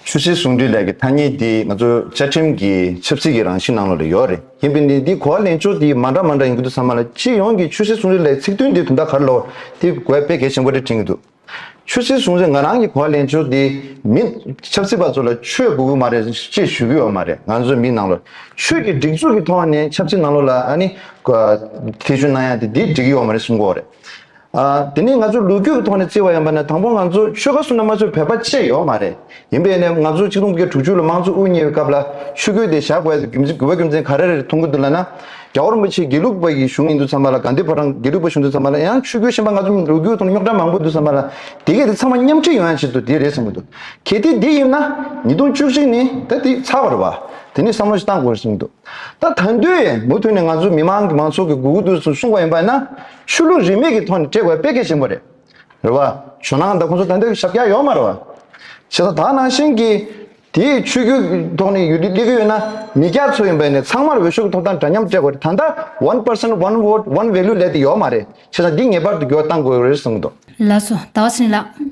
ཆོས་སྲིད་ཟུང་འབྲེལ་ལས་ཀྱི་ཐ་སྙད་དེ་ང་ཚོ་བཅའ་ཁྲིམས་ཀྱི་ཆབ་སྲིད་ཀྱི་རང་བཞིན་ནང་ལོགས་ལ་ཡོད་རེད་ཡིན་པས་ནི་དེའི་གོ་བ་ལེན་ཕྱོགས་དེ་མ་འདྲ་མ་འདྲ་ཡིན་གྱི་འདུག་ཚང་མ་ལ་སྤྱི་ཡོངས་ཀྱི་ཆོས་སྲིད་ཟུང་འབྲེལ་ལས་ཚིག་དོན་དེ་དོན་དག་ག་རེ་ལོགས་དེ་བཀོད་པས་གལ་ཆེན་པོ་རེད་དྲན་གྱི་འདུག། ཆོས་སྲིད་ཟུང་ཟེར་ང་རང་གི་གོ་བ་ལེན་ཆོག་དེ་མིན། ཆབ་སྲིད་པ་ཚོ་ལ་ཆོས་དགོས་གི་མ་རེད་ཅེས་ཞུ་གི་ཡོད་མ་རེད་ང་ཚོའི་མི་ནང་ལོ་ཆོས་ཀྱི་སྒྲིག་འཛུགས་ཀྱི་ཐོག་ནས་ཆབ་སྲིད་ནང་ལོ་ལ་ཨ་ནི་ཐེ་ཇུས་གནང་ཡ་དེ་འདི་འགྲིག་གི་ཡོད་མ་རེད་གསུང་གི་རེད། དེ་ནས་ང་ཚོ་ལུས་རྒྱུ་གི་ཐོག་ནས་བརྩི་བ་ཡིན་པ་ན་དང་པོ་ང་ཚོ་ཆོལ་ཁ་གསུམ་ན་མ་ཚོས་བོད་པ་བཅས་ཡོད་མ་རེད་ཡིན་པས་ནས་ང་ཚོ་ཆིག་སྟོང་དགུ་བརྒྱ་དྲུག་ཅུ་ལོ་མང་གཙོ་དབུ་བརྙེས་པའི་སྐབས་ལ་ཆུ་ཁོལ་དེ་ཞག་བལ་དུ་རྒྱུ་བ་རྒྱུ་མཚན་ག་རེ་རེད་མཐོང་གི་འདུག་ལ་ན། རྒྱ་བོར་མ་ཕྱིས་དགེ་ལུགས་པ་ཡི་གཞུང་ཡིན་འདུག་ཚང་མ་ལ་དགའ་འདོད་བ་དང་དགེ་ལུགས་པ་གཞུང་འདུག་ཚང་མ་ལ་ཡང་ཆུ་ཁོལ་ཤན་པ་ང་ཚོ་ལོ་རྒྱུས་ཐོག་ན་རྙོག་དྲ་མང་པོ་འདུག་ཚང་མ་ལ་དེ་གས་དེ་ཚང་མ་མཉམ་ཁྲིད་ཡོང་ཡ་བྱེད་དུ་དེ་རེད་བསམ་གི་འདུག་གལ་ཏེ་དེ་ཡིན་ན་ཉིས་སྟོང་བཅུ་གཅིག་ནི་ད་དེ་ཚར་བར་བ་དེ་ནས་བསམ་བློ་ཞིག་བཏང་དགོས་བསམ་གི་འདུག་ད་ད་འདོད་ཡས་མུ་མཐུད་ནས་ང་ཚོ་མི་མང་གི་མང་ཚོགས་ཀྱི་དགོས་འདོད་སུ་སྲུང་བ་ཡིན་པ་ན་ཆོས་ལུགས་རིས་མེད་ཀྱི་ཐོག་ནས་སྤྲད་དགོས་པ་དཔེ་གལ་ཆེན་པོ་རེད། རེད་བ། ཇོ་ནང་དང་ཁོང་ཚོ་དེ་འདྲའི་ཞབས་བཀྱག་ཡོད་མ་རེད་བ། བྱས་ཙང་ད་ནང་བཞིན་གྱི་དེའི་ཆོས་རྒྱུད་ཀྱི་ཐོག་ནས་ཡུལ་དུས་གླེང་གི་ཡོད་ན་མི་སྐྱ་ཚོ་ཡིན་པས་ནས་ཚང་མར་འོས་ཤོག་གི་ཐོབ་ཐང་འདྲ་མཉམ་སྤྲད་དགོས་རེད་ད་ལྟ one person one vote one value ལས་དེ་ཡོད་མ་རེད་བྱས་ཙང་འདི་ངེས་པར་དུ་འགྱུར་བ་གཏང་དགོས་རེད་གསུངས་འདུག། ལགས་སོ་ད་བ་སྲིན་ལགས།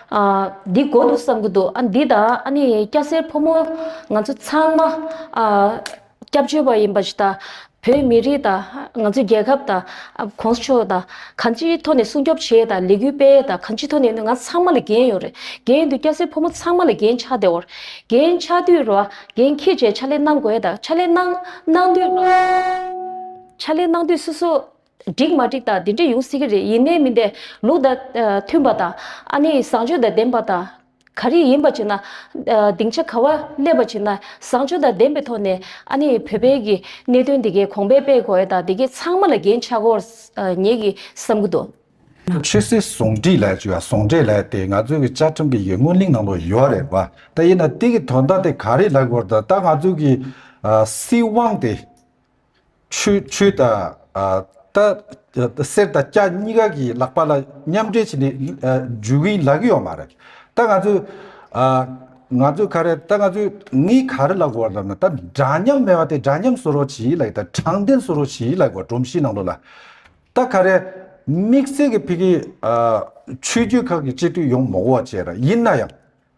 ཨ། འདི་དགོས་འདུག་བསམ་གྱི་འདུག་ཨ་འདི་ད་ཨ་ནི་སྐྱ་སེར་ཕོ་མོ་ང་ཚོ་ཚང་མ་ཨ། སྐྱབས་བཅོལ་བ་ཡིན་པ་ཞིག་དང། བོད་མི་རིགས་དང་ང་ཚོའི་རྒྱལ་ཁབ་དང ྋགོང་ས་མཆོག་དང་གང་ཅིའི་ཐོག་ནས་སྲུང་སྐྱོབ་བྱས་དང་ལས་འགུལ་སྤེལ་དང་གང་ཅིའི་ཐོག་ནས་ང་ཚང་མ་ལ་འགན་ཡོད་རེད་འགན་ཡོད་འདུག་སྐྱ་སེར་ཕོ་མོ་ཚང་མ་ལ་འགན་ཆགས་བདེ་བོར་འགན་ཆགས་དུས་ར་འགན་ཁྱེད་ཅེས་ཕྱག་ལས་གནང་དགོས་དང་ཕྱག་ལས་གནང་གནང་དུས་ཕྱག་ལས་གནང་དུས་སོ་སོ་འགྲིག་མ་འགྲིག་དང་དེ་འདྲ་ཡོང་སྲིད་ཀྱི་རེད་ཡིན་ནའི་མིན་དེ་ལུགས་དང་མཐུན་པ་དང་ཨ་ནེ་བཟང་སྤྱོད་དང་ལྡན་པ་དང། ག་རེ་ཡིན་པ་བྱས་ན། སྡིངས་ཆ་ག་བ་སླེབས་པ་བྱས་ན་བཟང་སྤྱོད་དང་ལྡན་པའི་ཐོག་ནས་ཨ་ནེ་བོད་པའི་གི་གནད་དོན་དེ་གའི་གོང་པས་སྤེལ་དགོས་དང་དེ་གའི་ཚང་མ་ལ་འགན་ཆགས་སྐོར་ངེད་ཀྱི་བསམ་གྱི་འདུག། ཆོས་སྲིད་ཟུང་འབྲེལ་ལས་ཀྱི་བ་ཟུང་འབྲེལ་ལས་དེ་ང་ཚོའི་གི་བཅའ་ཁྲིམས་གི་ཡི་སྔོན་གླིང་ནང་དུ་ཡོད་རེད་བ་ད་ཡིན་ན་དེ་གི་དོན་དག་དེ་ག་རེ་ལ་སྐོར་དུ་ད་ང་ཚོའི་གི་སྲིད་དབང་དེ། ཆུ་དང། གསེར་དང་སྐྱ་གཉིས་ཀ་གི་ལག་པ་ལ་མཉམ་འབྲེལ་བྱས་ནས་འཇུ་གིན་ལག་གི་ཡོད་མ་རེད། ད་ང་ཚོས། ང་ཚོས་ག་རེ་ད་ང་ཚོས་ངའི་ག་རེ་ལ་གོ་བ་ལབ་ན་ད་འདྲ་མཉམ་མེད་པ་དེ་འདྲ་མཉམ་བཟོ་རོགས་བྱེད་ཡིད་ལ་ཡོད་ད་དྲང་བདེན་བཟོ་རོགས་བྱེད་ཡིད་ལ་ཡོད་པ་སྒྲོམ་གཞིའི་ནང་ལོགས་ལ། ད་ག་རེ། དམིགས་བསལ་གྱི་ཕི་གི། ཆོས་རྒྱུད་ཁག་གི་སྤྱི་འཐུས་ཡོང་མ་གོ་བ་བྱས་ར་ཡིན་ན་ཡང།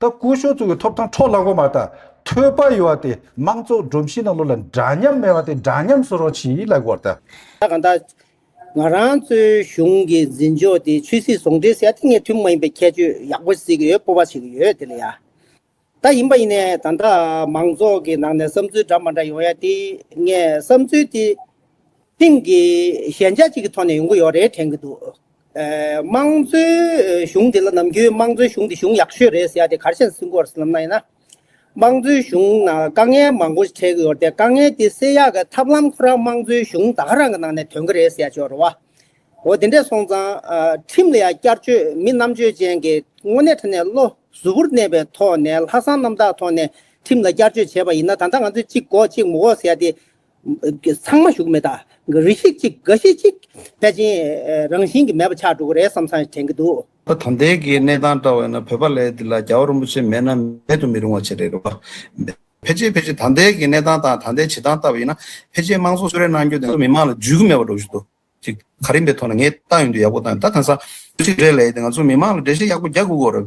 ད་སྐུ་ཞོགས་ཚུགས་ཀྱི་ཐོབ་ཐང་འཕྲོག་བརླག་པ་མ་ད་ཐོས་པ་ཡོད་བ་དེ་དམངས་གཙོ་སྒྲོམ་གཞི་ནང་ལོ་ལ་འདྲ་མཉམ་མེད་བ་དེ་འདྲ་མཉམ་བཟོ་རོགས་བྱིས་ལ་གོར་ད། ད་གང་ད། ང་རང་གཙོའི་གཞུང་གི་འཛིན་ཕྱོགས་དེ་ཆོས་སྲིད་ཟུང་འབྲེལ་ཟེར་ཡ་དེ་ངས་མཐུན་མ་ཡིན་པའི་ཁྱད་ཆོས་ཡག་པོ་ཟིག་ཡོད་སྤོབས་པ་ཞིག་ཡོད་དེ་ལ་ཡ། ད་ཡིན་པ་ཡིན་ནས་ད་ད་མང་ཚོགས་ཀྱི་ནང་ནས་བསམ་ཚུལ་འདྲ་མ་འདྲ་ཡོང་ཡ་དེ་ངས་བསམ་ཚུལ་དེ། ཐེངས་གིས་ཞན་ཆ་གཅིག་གི་ཐོག་ནས་ཡོང་གི་ཡོད་རེད་དྲན་གི་འདུག་དམངས་གཙོའི་གཞུང་དེ་ལ་ནམ་རྒྱུན་དམངས་གཙོའི་གཞུང་དེ་གཞུང་ཡག་ཤོས་རེད་ཟེར་ཡ་དེ་གར་བཤད་སྲིད་འགོ་བར་སེམས་ན་ཡིན་ན། དམངས་གཙོའི་གཞུང་ནང་དཀའ་ངལ་མང་པོ་འཕྲད་ཀྱི་ཡོད་རེད་དཀའ་ངལ་དེ་སེལ་ཡག་གི་ཐབས་ལམ་ཁོ་རང་དམངས་གཙོའི་གཞུང་ད་ག་རང་གི་ནང་ནས་དོན་གི་རེད་ཟེར་ཡ་བྱོས་རེད་བ། འོ་དེ་འདྲས་སོང་ཙང་ཁྲིམས་ལ་ཡང་བསྐྱར་བཅོས་མི་རྣམ་དཔྱོད་ཅན་གྱི་དངོས་གནས་ཁྲི་ནས་བློ་གཟུ་བོར་གནས་པའི་ཐོག་ནས་ལྷག་བསམ་རྣམ་དག་ཐོག་ནས་ཁྲིམས་ལ་བསྐྱར་བཅོས་བྱས་པ་ཡིན་ན་ད་ལྟ་ང་ཚོས་གཅིག་འགོག་གཅིག་མི་འོག་ཟེར་ཡ་དེ་ཚང་མ་བཞུགས་མེད་དག་རེ་ཤིག་ཅིག་ག་ཤེད་ཅིག་པེ་ཅིན་རང་བཞིན་གྱི་མེད་པ་ཆགས་འགྲོ་གི་རེད་བསམ་བསམ་དྲན་གྱི་འདུག། ད་དོན་དེ་གའི་གནས་སྟངས་བཀྲ་བས་ན་བོད་པ་ལས་འདི་ལ་རྒྱ་བོ་རིན་པོ་ཆེ་མེད་ན་མེད་དུ་མི་རུང་བ་ཆེ་རེད་རེད་བ། ཕལ་ཆེར་ཕལ་ཆེར་ད་ལྟའི་གའི་གནས་སྟངས་དང་ད་ལྟའི་བྱེད་སྟངས་ལྟ་བ་ཡིན་ན་ཕལ་ཆེར་དམངས་གཙོ་གསོལ་རས་གནང་རྒྱུ་དེ་ཚོ་མི་དམངས་ལ་འཇུས་ཀྱི་མེད་པ་འགྲོ་བཞིན་འདུག་ཅིག་ག་རིམ་པའི་ཐོག་ནས་ངས་ཏང་ཡོན་དུ་ཡག་པོ་བཏང་ཡོད་ད་དེང་སང་ཚིག་འགྲེལ་ལས་ཡིན་ཏེ་ང་ཚོ་མི་དམངས་ལ་འགྲེལ་བཤད་ཡག་པོ་རྒྱག་དགོས་གོ་རེད།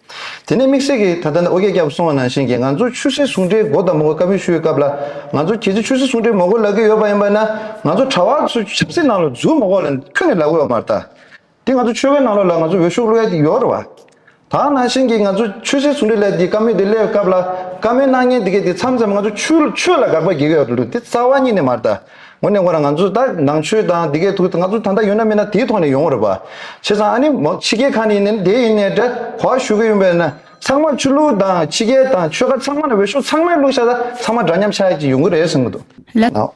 དེ་ནས་དམིགས་བསལ་གྱིས་ད་ལྟ་ནས་ཨོ་རྒྱན་སྐྱབས་སོང་བ་ནང་བཞིན་གྱི་ང་ཚོ་ཆུ་སྲིན་ཟུང་འབྲེལ་མགོ་དང་མགོ་བཀའ་འབུལ་ཞུ་བའི་སྐབས་ལ་ང་ཚོ་གལ་སྲིད་ཆུ་སྲིན་ཟུང་འབྲེལ་མགོ་བཀོལ་ལག་གི་ཡོད་པ་ཡིན་པ་ན་ང་ཚོ་གྲྭ་བ་ཚོས་ཆབ་སྲིད་ནང་ལ་འཛུལ་མགོ་བཀོལ་ལ་ཁྱོན་ནས་ལག་བཀོལ་བ་མ་རྟ། དེ་ང་ཚོ་ཆོལ་ཁའི་ནང་ལོགས་ལ་ང་ཚོ་འོས་ཤོག་བླུ་ཡ་ཡོད་རེད་བ། དྭང་ནང་བཞིན་གྱི་ང་ཚོ་ཆུ་སྲིན་ཟུང་འབྲེལ་ལས་དེ་བཀའ་མོལ་དེ་སླེབས་སྐབས་ལ་བཀའ་མོལ་གནང་ཉེན་དེ་གས་དེ་མཚམས་མཚམས་ང་ཚོ་ཆུ་ཆོས་ལ་དགག་པ་བགྱི་གི་ཡོད་རེད་འདུག་དེ་རྩ་བ་ཉིད་ནས་མ་རྟ། ངོ་ནས་ཁོ་རང་ང་ཚོ་ད་ནང་ཆོས་དང་འདི་གས་ཐུག་ང་ཚོ་ད་ལྟ་ཡོད་ན་མེད་ན་དེའི་ཐོག་ནས་ཡོང་རོགས་པ། བྱས་ཙང་ཨ་ནི་ཕྱི་རྒྱལ་ཁག་ནས་ཡིན་ནའི་དེ་ཡིན་ནའི་དྲ་བ་ཞུ་གི་ཡོད་པས་ན་ཚང་མ་ཆོས་ལུགས་དང་ཕྱི་རྒྱལ་དང་ཆོལ་ཁ་ཚང་མ་ན་འོས་ཤོག་ཚང་མའི་བླུགས་ཤག་ད་ཚང་མ་འདྲ་མཉམ་ཆགས་ཀྱི་ཡོང་གི་རེད་གསུང་གི་འདུག་ལབ།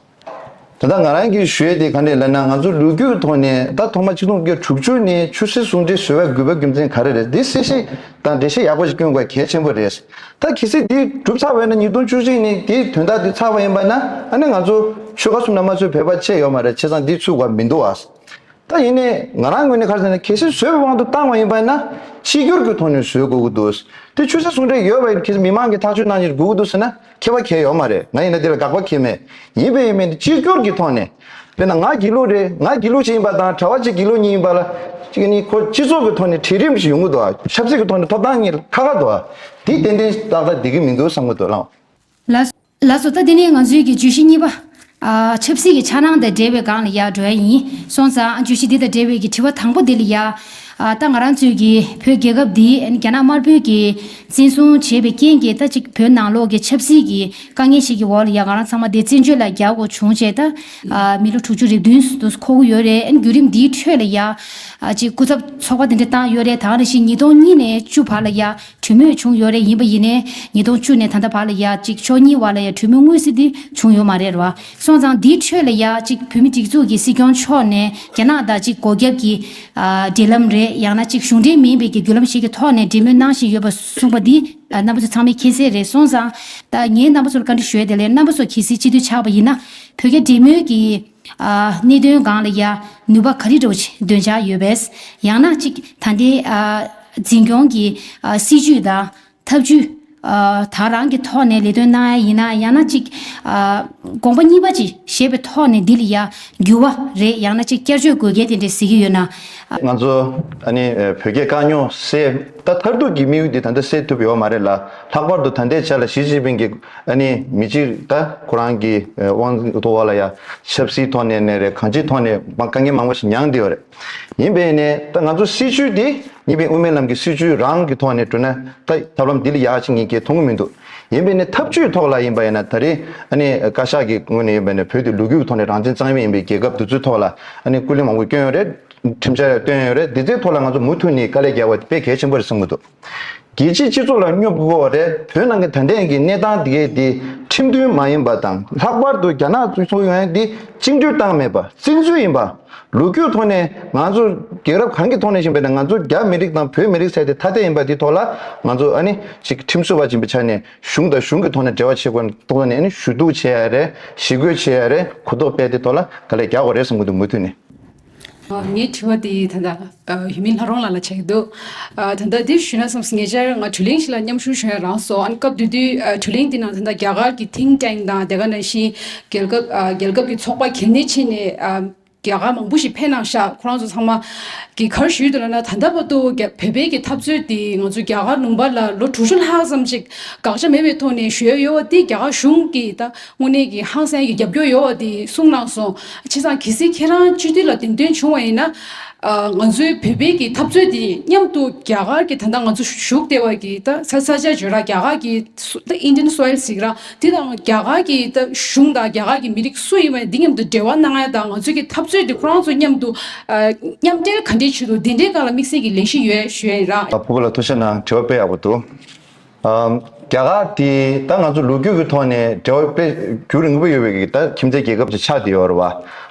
ད་ལྟ་ང་རང་གིས་ཞུས་དེ་ག་འདྲས་ལབ་ན་ང་ཚོ་ལོ་རྒྱུས་ཀྱི་ཐོག་ནས་ད་ཐོག་མ་གཅིག་སྟོང་བརྒྱད་དྲུག་ཅུ་ནས་ཆོས་སྲིད་ཟུང་འབྲེལ་བཟོས་བའི་དགོས་པ་རྒྱུ་མཚན་ག་རེ་རེད་འདི་གསལ་བཤད་དང་འགྲེལ་བཤད་ཡག་པོ་ཞིག་བསྐྱོན་དགོས་གལ་ཆེན་པོ་རེད། ད་གལ་སྲིད་འདི་གྲུབ་ཚར་བས་ན་ཉིས་སྟོང་བཅུ་གཅིག་ནི་དེའི་དོན་དག་འདི་ཚར་བ་ཡིན་པ་ན་ཨ་ནི་ང་ཚོ་ཆོལ་ཁ་གསུམ་ན་མ་ཚོས་བོད་པ་བཅས་ཡོད་མ་རེད་བྱས་ཙང་འདི་ཚུགས་དགོས་མི་འདུག་ཨ། ད་ཡིན་ནའི་ང་རང་ངོས་ནས་ཁར་ཟེར་ན་གལ་སྲིད་བཟོས་པའི་དབང་དུ་བཏང་བ་ཡིན་པ་ན་གཅིག་གྱུར་གྱི་ཐོག་ནས་བཟོས་དགོས་ཀྱི་འདུག་དེ་ཆོས་སྲིད་ཟུང་འབྲེལ་ཡོད་པ་ཡིན་ན་གལ་སྲིད་མི་མང་གིས་ཐག་གཅོད་གནང་ཕྱིར་དགོས་ཀྱི་འདུག་ཟེར་ན་ཁེ་བ་གལ་ཡོད་མ་རེད་ང་ཡིན་ན་དེ་ལ་དགག་པ་གལ་མེད་ཡིན་པས་ཡིན་མིན་དེ་གཅིག་གྱུར་གྱི་ཐོག་ནས། དཔེར་ན་ང་སྒྱིད་ལུག་རེད་ང་སྒྱིད་ལུག་ཅིག་ཡིན་པ་དང་གྲྭ་བ་གཅིག་སྒྱིད་ལུག་གཉིས་ཡིན་པ་ལ། གཅིག་ནི་ཁོ་སྤྱི་ཚོགས་ཀྱི་ཐོག་ནས་གྲལ་རིམ་ཞིག་ཡོང་གི་འདུག་ཨ་ཆབ་སྲིད་ཀྱི་ཐོག་ནས་ཐོབ་ཐང་གཉིས་ཁ་ཁ་འདུག་ཨ། དེ་ཏན་ཏན་ཏག་ཏག་བསྡད་ཀྱི་མི་འདུག་བསམ་གྱི་འདུག་བླངས། ལ་བཟོ་ལྟ་དེ་ནི་ང་ཚོའི་གི་བརྗོད་གཞི་གཉིས་པ། ཨ་ཆབ་སྲིད་ཀྱི་འཆར་སྣང་དང་འབྲེལ་བའི་སྒང་ལ་ཡག་འགྲོ་ཡ་ཡིན། སོང་ཙང་ཨ་བརྗོད་གཞི་འདི་དང་འབྲེལ་བའི་གི་དྲི་བ་དང་པོ་འདི་ལ་ཡག། ད་ང་རང་ཚོས་ཀྱིས་བོད་རྒྱལ་ཁབ་འདི་རྒྱ་ནག་དམར་པོས་ཀྱིས་འཛིན་བཟུང་བྱས་པའི་རྐྱེན་གྱིས་ད་ཅིག་བོད་ནང་ལོགས་ཀྱི་ཆབ་སྲིད་ཀྱི་དཀའ་ངལ་ཞིག་གི་འོག་ལ་ཡང་ང་རང་ཚང་མ་དེ་བཙན་བྱོལ་ལ་རྒྱ་དགོ་བྱུང་བྱས་ད་མི་ལོ་དྲུག་ཅུ་རེ་བདུན་དུ་འཁོར་གི་ཡོད་རེད་རྒྱུད་རིམ་འདིའི་ཁྲོད་ལ་ཡང་ཅིག་སྐུ་ཚབ་ཚོགས་པ་དེ་འདྲ་བཏང་ཡོད་རེད་ད་ང་རང་བཞིན་ཉིས་སྟོང་གཉིས་ནས་བཅུ་བར་ལ་ཡང་གྲོས་མོས་བྱུང་ཡོད་རེད་ཡིན་པ་ཡིན་ནའི། ཉིས་སྟོང་བཅུ་ནས་ད་ལྟ་བར་ལ་ཡ་གཅིག་ཕྱོགས་གཉིས་བར་ལ་ཡ་གྲོས་མོས་དངོས་གཟིགས་འདི་བྱུང་ཡོད་མ་རེད་ར། སོང་ཙང་འདིའི་ཁྲོད་ལ་ཡ་གཅིག་བོད་མི་སྒྲིག་འཛུགས་ཀྱི་སྲིད་སྐྱོང་མཆོག་ནས་རྒྱ་ནག་དང་གཅིག་སྒོ་རྒྱབ་ཀྱི། འབྲེལ་ལམ་རེད་ཡང་ན་གཅིག་གཞུང་འབྲེལ་མིན་པའི་ཀྱི་རྒྱུ་ལམ་ཞིག་གི་ཐོག་ནས་འབྲེལ་མོལ་གནང་བཞིན་ཡོད་པ་གསུངས་པ་འདི། རྣམ་པ་ཚོ་ཚང་མས་མཁྱེན་གསལ་རེད་སོང་ཙང། ད་ངས་རྣམ་པ་ཚོ་ལ་བཀའ་འདྲི་ཞུ་ཡ་དེ་ལས་རྣམ་པ་ཚོ་གལ་སྲིད་སྤྱི་འཐུས་ཆགས་པ་ཡིན་ན། བོད་རྒྱ་འབྲེལ་མོལ་གྱི། གནད་དོན་སྒང་ལ་ཡ། ནུས་པ་ག་རེ་འགྲོ་ཆེད་འདོན་འཆར་ཡོད་པས། ཡང་ན་གཅིག་ད་ལྟའི། འཛིན་སྐྱོང་གི། སྲིད་ཇུས་དང། ཐབས་ཇུས། དག་རང་གི་ཐོག་ནས་ལས་དོན་གནང་ཡ་ཡིན་ན་ཡང་ན་གཅིག། དགོངས་པ་གཉིས་པ་ཅིག་བཞེས་པའི་ཐོག་ནས་འདི་ལ་ཡ། འགྱུར་བ་རེད་ཡང་ན་གཅིག་བསྐྱར་བཅོས་དགོས་གལ་དེ་འདྲས་ཟེར་གྱི་ཡོད་ན། ང་ཚོ། ད་ནི་བོད་རྒྱའི་དཀའ་རྙོག་སེལ། ད་མཐར་ཐུག་གི་དམིགས་ཡུལ་དེ་ད་ལྟ་སེལ་ཐུབ་ཡོད་མ་རེད་ལ། ལྷག་པར་དུ་ད་ལྟའི་ཆ་ལ་ཞི་ཅིན་ཕིང་གིས། ཨ་ནི་མི་གཅིག་ད་ཁོ་རང་གི་དབང་འཛིན་ཐོག་བ་ལ་ཡ་ཆབ་སྲིད་ཐོག་ནས་ནས་རེད་གང་ཅིའི་ཐོག་ནས་དཀའ་ངལ་མང་པོ་ཞིག་མྱངས་བསྡད་ཡོད་རེད་ཡིན་པས་ནས་ད་ང་ཚོ་སྲིད་བྱུས་དེ་ཡིན་པས་དབུ་མའི་ལམ་གྱི་སྲིད་བྱུས་རང་གི་ཐོག་ནས་བསྐྲུན་ན་ད་ཐབས་ལམ་དེ་ལས་ཡག་ཅིག་ངས་ཀྱེ་མཐོང་གི་མི་འདུག་ཡིན་པས་ནས་ཐབས་བྱུས་ཐོག་ལ་ཡིན་པ་ཡིན་ན་ད་རེས་ཨ་ནི་བཀའ་ཤག་གི་ངོས་ནས་ཡིན་པ་ནས་བོད་དེ་ལུག་ཁྱུ་ཐོག་ནས་རང་བཙན་གཙང་མའི་ཡིན་པའི་རྒྱལ་ཁབ་དེ་ཚོའི་ཐོག་ལ་ཨ་ནི་སྐུ་ལས་མང་པོ་བསྐྱོན་ཡོད་རེད་ཁྲིམས་འཆར་ཡང་བཏོན་ཡོད་རེད་དེ་ཚོའི་ཐོག་ལ་ང་ཚོ་མུ་མཐུད་ནས་དཀའ་ལས་རྒྱག་པ་དཔེ་གལ་ཆེན་པོ་རེད་གསུངས་གི་འདུག། རྒྱལ་སྤྱིའི་སྤྱི་ཚོགས་ལ་སྨྱོ་འབོག་རེད་བོད་ནང་གི་ད་ལྟའི་གི་གནས་སྟངས་དེ་དེ་ཁྲིམས་མཐུན་མ་ཡིན་པ་དང་ལྷག་པར་དུ་རྒྱ་ནག་གཙོས་ཚོགས་ཡོན་དེ་བཅིངས་འགྲོལ་བཏང་མེད་པ་བཙན་འཛུལ་ཡིན་པ་ལུགས་རྒྱུད་ཐོག་ནས་ང་ཚོ་རྒྱལ་རབས་གང་གི་ཐོག་ནས་བཞིན་པའི་ནང་ང་ཚོ་རྒྱ་མི་རིགས་དང་བོད་མི་རིགས་ཚད་དེ་ཐ་དད་ཡིན་པ་དེ་ཐོག་ལ་ང་ཚོ་ཨ་ནི་ཅིག་ཁྲིམས་བཟོ་བ་བྱིན་པའི་ཆ་ནས་གཞུང་དང་གཞུང་གི་ཐོག་ནས་འབྲེལ་བ་བྱེད་དགོས་ན་ཐོག་ནས་ནི་ཞུ་གཏུག་བྱེད་ཡ་རེད་ཞི་རྒོལ་བྱེད་ཡ་རེད་གུ་དོག་པས་དེ་ཐོག་ལ་ག་ལེ་རྒྱག་གོ་རེད་བསམ་གི་འདུག་མུ་མཐུད་ནས། ངའི་དྲི་བ་དེ་ད་ལྟ་ཡུལ་མི་ལྷ་རོང་ལགས་ལ་བྱ་གི་འདུག་ད་ལྟ་འདིར་ཞུས་ན་བསམས་སོ་ཉེ་ཆར་ང་དྲུ་གླིང་ཞིག་ལ་མཉམ་ཞུགས་བྱུང་ཡང་རང་སོ་ཨང་སྐབས་དེ་དུས་དྲུ་གླིང་དེ་ནང་ད་ལྟ་རྒྱ་གར་གྱི Think Tank དང་དེ་ག་ནང་བཞིན་རྒྱལ་ཁབ་རྒྱལ་ཁབ་ཀྱི་ཚོགས་པ་གལ་གནད་ཆེ་ནས་རྒྱ་གར་མང་པོ་ཞིག་ཕེབས་གནང་ཤག་ཁོ་རང་ཚོ་ཚང་མ་གི་གར་ཞུས་དུ་ལ་ན་ད་ལྟ་བར་དུ་བོད་པའི་གི་འཐབ་རྩོད་དེ་ང་ཚོ་རྒྱ་གར་ནུམ་པ་ལ་ལོ་དྲུག་ཅུ་ལྷག་ཙམ་ཞིག་དགག་བྱ་མེད་པའི་ཐོག་ནས་ཞུས་ཡོད་དེ་རྒྱ་གར་གཞུང་གིས་ད་དངོས་གནས་ཀྱི་ཧང་སངས་ཀྱི་རྒྱབ་སྐྱོར་ཡོད་བ་དེ་གསུངས་གནང་སོང་བྱས་ཙང་གལ་སྲིད་ཁྱེད་རང་སྤྱི་འཐུས་ལ་འདེམས་ཐོན་བྱུང་བ་ཡིན་ན། ང་ཚོའི་བོད་པའི་ཀྱི་འཐབ་རྩོད་དེ་མཉམ་དུ་རྒྱ་གར་གྱི་ད་ལྟ་ང་ཚོ་བཞུགས་སྡེ་བ་ཀྱི་ད་ས་ས་ཆ་བྱོས་ར་རྒྱ་གར་གྱི Indian soil གཟིགས་ར་དེ་དང་རྒྱ་གར་གྱི་ད་གཞུང་དང་རྒྱ་གར་གྱི་མི་རིགས་སུ་ཡིན་བ་དེ་མཉམ་དུ་འབྲེལ་བ་གནང་ཡ་དང་ང་ཚོའི་ཀྱི་འཐབ་རྩོད་དེ་ཁོ་རང་ཚོ་མཉམ་དུ་མཉམ་འབྲེལ་ག་འདྲའི་བྱེད་དུ་དེ་འདྲའི་ག་ལ་དམིགས་བསལ་གྱི་ལས་གཞི་ཡོད་བྱོས་ར། ལ་ཕུ་བོ་ལ་ཐུགས་ཤ་ནང་དྲི་བ་སྤེལ་ཡག་པོ་འདུག། རྒྱ་གར་དེ་ད་ང་ཚོ་ལོ་རྒྱུས་ཀྱི་ཐོག་ནས་འབྲེལ་བ་དཔེ་རྒྱུ་རིང་པོ་ཡོད་པའི་གིས་ད་ཁྱིམ་མཚེས་རྒྱལ་ཁབ་ཅིག་ཆགས་བསྡད་ཡོད་རེད་བ།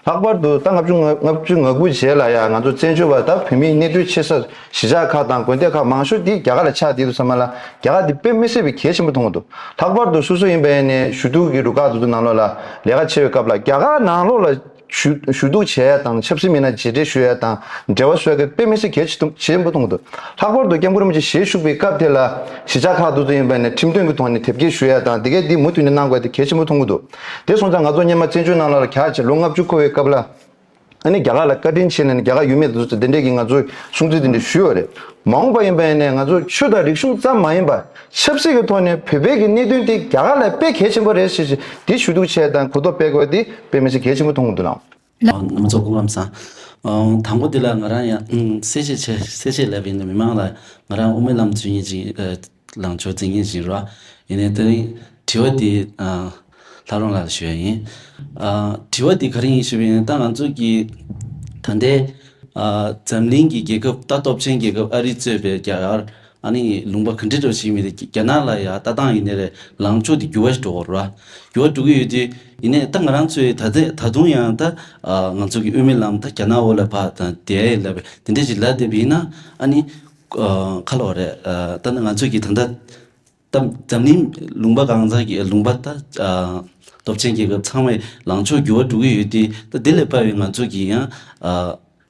ལྷག་པར་དུ་ད་ལྔ་བཅུ་ང་ལྔ་བཅུ་ང་དགུ་རྗེས་ལ་ཡང་ང་ཚོ་བཙན་བྱོལ་བ་ད་བོད་མིའི་གནས་སྡོད་ཆེ་ས་གཞིས་ཆགས་ཁག་དང་དགོན་སྡེ་ཁག་མང་ཤོས་དེ་རྒྱ་གར་ལ་ཆགས་བསྡད་འདུག་ས་མ་ལ་རྒྱ་གར་དེ་དཔེ་མི་སྲིད་པའི་གལ་ཆེན་པོ་མཐོང་འདུག་ལྷག་པར་དུ་སོ་སོ་ཡིན་པའི་ནས་ཞུ་གཏུག་གི་རུ་ཁག་དེ་ཚོ་ནང་ལོགས་ལ་ལས་ཀ་བྱེད་པའི་སྐབས་ལ་རྒྱ་གར་ནང་ལོགས་ལ། ཞུ་གཏུག་བྱས་ཡས་དང་ཆབ་སྲིད་མི་སྣ་རྗེས་དྲན་ཞུ་ཡས་དང་འབྲེལ་བ་སོགས་ཀྱི་དཔེ་མི་སེར་གྱེས་ཆེན་པོ་མཐོང་འདུག་ལྷག་པར་དུ་སྐྱབས་མགོན་རིན་པོ་ཆེ་ཞལ་བཞུགས་པའི་སྐབས་དེ་ལ་གཞིས་ཆགས་ཁག་དུ་ཙུ་ཡིན་པ་ནས་ཁྲིམས་དོན་གྱི་ཐོག་ནས་དེབ་སྐྱེལ་ཞུ་ཡས་དང་དེ་གས་འདི་མུ་མཐུད་ནས་གནང་དགོས་དེ་གལ་ཆེན་པོ་མཐོང་གི་འདུག་དེ་སོང་ཙང་ང་ཚོ་སྙེ་མ་བཙན་བྱོལ་ནང་ལ་ལ་གྱ་བྱས་ལོ་ལྔ་བཅུ་འཁོར་བའི་སྐབས་ལ་ཨ་ནི་རྒྱ་གར་ལ་བཀའ་དྲིན་ཆེ་ནས་ནི་རྒྱ་གར་ཡུལ་མི་དེ་ཚོ་དེ་འདྲས་ཀྱིས་ང་ཚོའི་སྲུང་བརྩི་དེ་འདྲས་ཞུས་བ་རེད་མ་འོངས་པ་ཡིན་པ་ནས་ང་ཚོ་ཆོས་དང་རིག་གཞུང་ཙམ་མ་ཡིན་པར། ཆབ་སྲིད་ཀྱི་ཐོག་ནས་བོད་པའི་གི་གནད་དོན་དེ་རྒྱ་གར་ལ་དཔེ་གལ་ཆེན་པོ་རེད་ཞེས་དེ་ཞུ་གཏུག་བྱས་དང་གོ་རྟོགས་སྤེལ་དགོས་དེ་དཔེ་མི་ཆེ་གལ་ཆེན་པོ་མཐོང་གི་འདུག་ལགས། མང་ཚོགས་སྐུ་ངམ་ས། དང་པོ་དེ་ལ་ང་རང་ཡང་གསལ་བཤད་བྱེད་གསལ་བཤད་ལབ་ཡིན་ནི་མི་མང་ལ་ང་རང་དབུ་མའི་ལམ་རྫུན་ཡིན་ཅིང་ལངས་ཕྱོགས་རྫིན་ཡིན་བཞིན་རོགས་ཡིན་ནི་དེ་རིང་དྲི་བ་དེ་ལྷ་རོང་ལགས་ལ་ཞུ་ཡ་ཡིན། དྲི་བ་དེ་ག་རིང་ཡིན་ཞུས་པ་ཡིན་ད་ང་ཚོ་གི་ད་ལྟའི་འཛམ་གླིང་གི་རྒྱལ་ཁབ་ད་སྟོབས་ཆེན་རྒྱལ་ཁབ་ཨ་རི་གཙོས་པའི་རྒྱ་གར། ཨ་ནི་ལུང་པ་ག་འདྲི་འདྲོ་ཞིག་མི་རེད་རྒྱ་ནག་ལ་ཡ་ལྟ་སྟངས་ཡིན་ནི་རེད་ལངས་ཕྱོགས་དེ་འགྱུར་བ་ཞིག་འགྲོ་ར་འགྱུར་བ་འགྲོ་གི་ཡོད་དུས་ཡིན་ནའི་ད་ང་རང་ཚོའི་ད་ཚེ་ད་དུང་ཡང་ད་ང་ཚོ་གི་དབུས་མི་ལམ་ད་རྒྱ་ནག་འོ་ལ་བ་དང་དེ་ཡི་ལ་བས་དེ་འདྲས་ཞིག་ལ་བསྡད་པ་ཡིན་ན་ཨ་ནི་ཁ་ལོ་རེད་ད་ང་ཚོ་གི་ད་ད་འཛམ་གླིང་ལུང་པ་གང་ཚང་གི་ལུང་པ་ད་སྟོབས་ཆེན་རྒྱལ་ཁབ་ཚང་མའི་ལངས་ཕྱོགས་འགྱུར་བ་འགྲོ་གི་ཡོད་དུས་ད་དེ་ལས་པ་བའི་ང་ཚོ་གི་ཡང།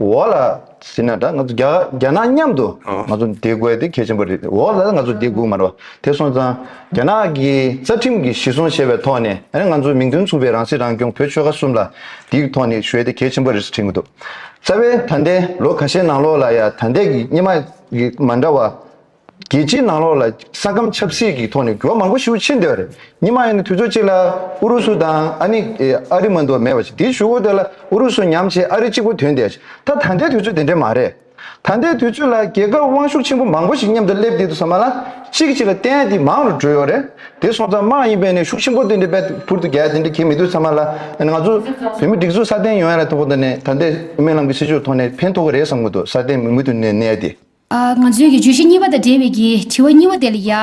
འོག་ལ་ཟིན་ན་འདྲ་ང་ཚོ་རྒྱ་ནག་མཉམ་དུ་ང་ཚོ་འདེད་དགོས་དེ་གལ་ཆེན་པོ་རེད་འོག་ལ་ང་ཚོ་འདེད་དགོས་མ་རེད་པ་དེ་སོང་ཙང་རྒྱ་ནག་གི་རྩ་ཁྲིམས་ཀྱི་གཞི་བཟུང་བྱས་པའི་ཐོག་ནས་ཨ་རི་ང་ཚོ་མིང་དོན་མཚུངས་པའི་རང་སྲིད་རང་སྐྱོང་བོད་ཆོལ་ཁ་གསུམ་ལ་དེའི་ཐོག་ནས་གཞོལ་དེ་གལ་ཆེན་པོ་རེད་ཟེར་གྱི་འདུག་རྩ་བའི་ད་ལྟའི་ལོ་ག་ཤེས་ནང་ལོགས་ལ་ཡང་ད་ལྟའི་གི་རྙིང་མ་གི་མ་འདྲ་བ་རྒྱལ་སྤྱིའི་ནང་ལོགས་ལ་ས་ཁམས་ཆབ་སྲིད་ཀྱི་ཐོག་ནས་འགྱུར་བ་མང་པོ་ཞུགས་ཕྱིན་འདི་བར་ཉི་མ་ཡིན་ན་དུས་ཚོད་གཅིག་ལ་ཨུ་རུ་སུ་དང་ཨ་ནི་ཨ་རི་མ་འདུག་མེད་པ་ཞིག་དེ་ཞུ་བོ་དེ་ལ་ཨུ་རུ་སུ་ཉམས་བྱེད་ཨ་རི་གཅིག་པོ་དོན་དེ་ད་ད་ལྟའི་དུས་ཚོད་དེ་འདྲ་མ་རེད། ད་ལྟའི་དུས་ཚོད་ལ་རྒྱལ་ཁབ་དབང་ཤུགས་ཆེན་པོ་མང་པོ་ཞིག་མཉམ་དུ་སླེབས་བསྡད་འདུག་ས་མ་ལ་གཅིག་གཅིག་ལ་བསྟན་དེ་མང་རུ་འགྲོ་ཡོད་རེད་དེ་སོང་ཙང་དམག་ཡིན་པས་ནས་ཤུགས་ཆེན་པོ་དེ་འདྲ་པད་ཕུར་དུ་རྒྱལ་དེ་འདྲ་གྱིས་མི་འདུག་ས་མ་ལ་ང་ཚོ་བོད་མི་སྒྲིག་འཛུགས་སྲ་བརྟན་ཡོང་ཡ་ལ་ཐོག་ཏུ་ནས་ད་ལྟའི་སྨོན་ལམ་གྱི་སྲིད་ཇུས་ཐོག་ནས་ཕན་ཐོག་གི་རེད་བསམ་གི་འདུག་སྲ་བརྟན་མི་མུ་མཐུད་ནས་གནས་དེ། ང་ཚོས་ཀྱི་བརྗོད་གཞི་གཉིས་པ་དང་འབྲེལ་བའི་གྱི་དྲི་བ་གཉིས་བ་དེ་ལ་ཡ།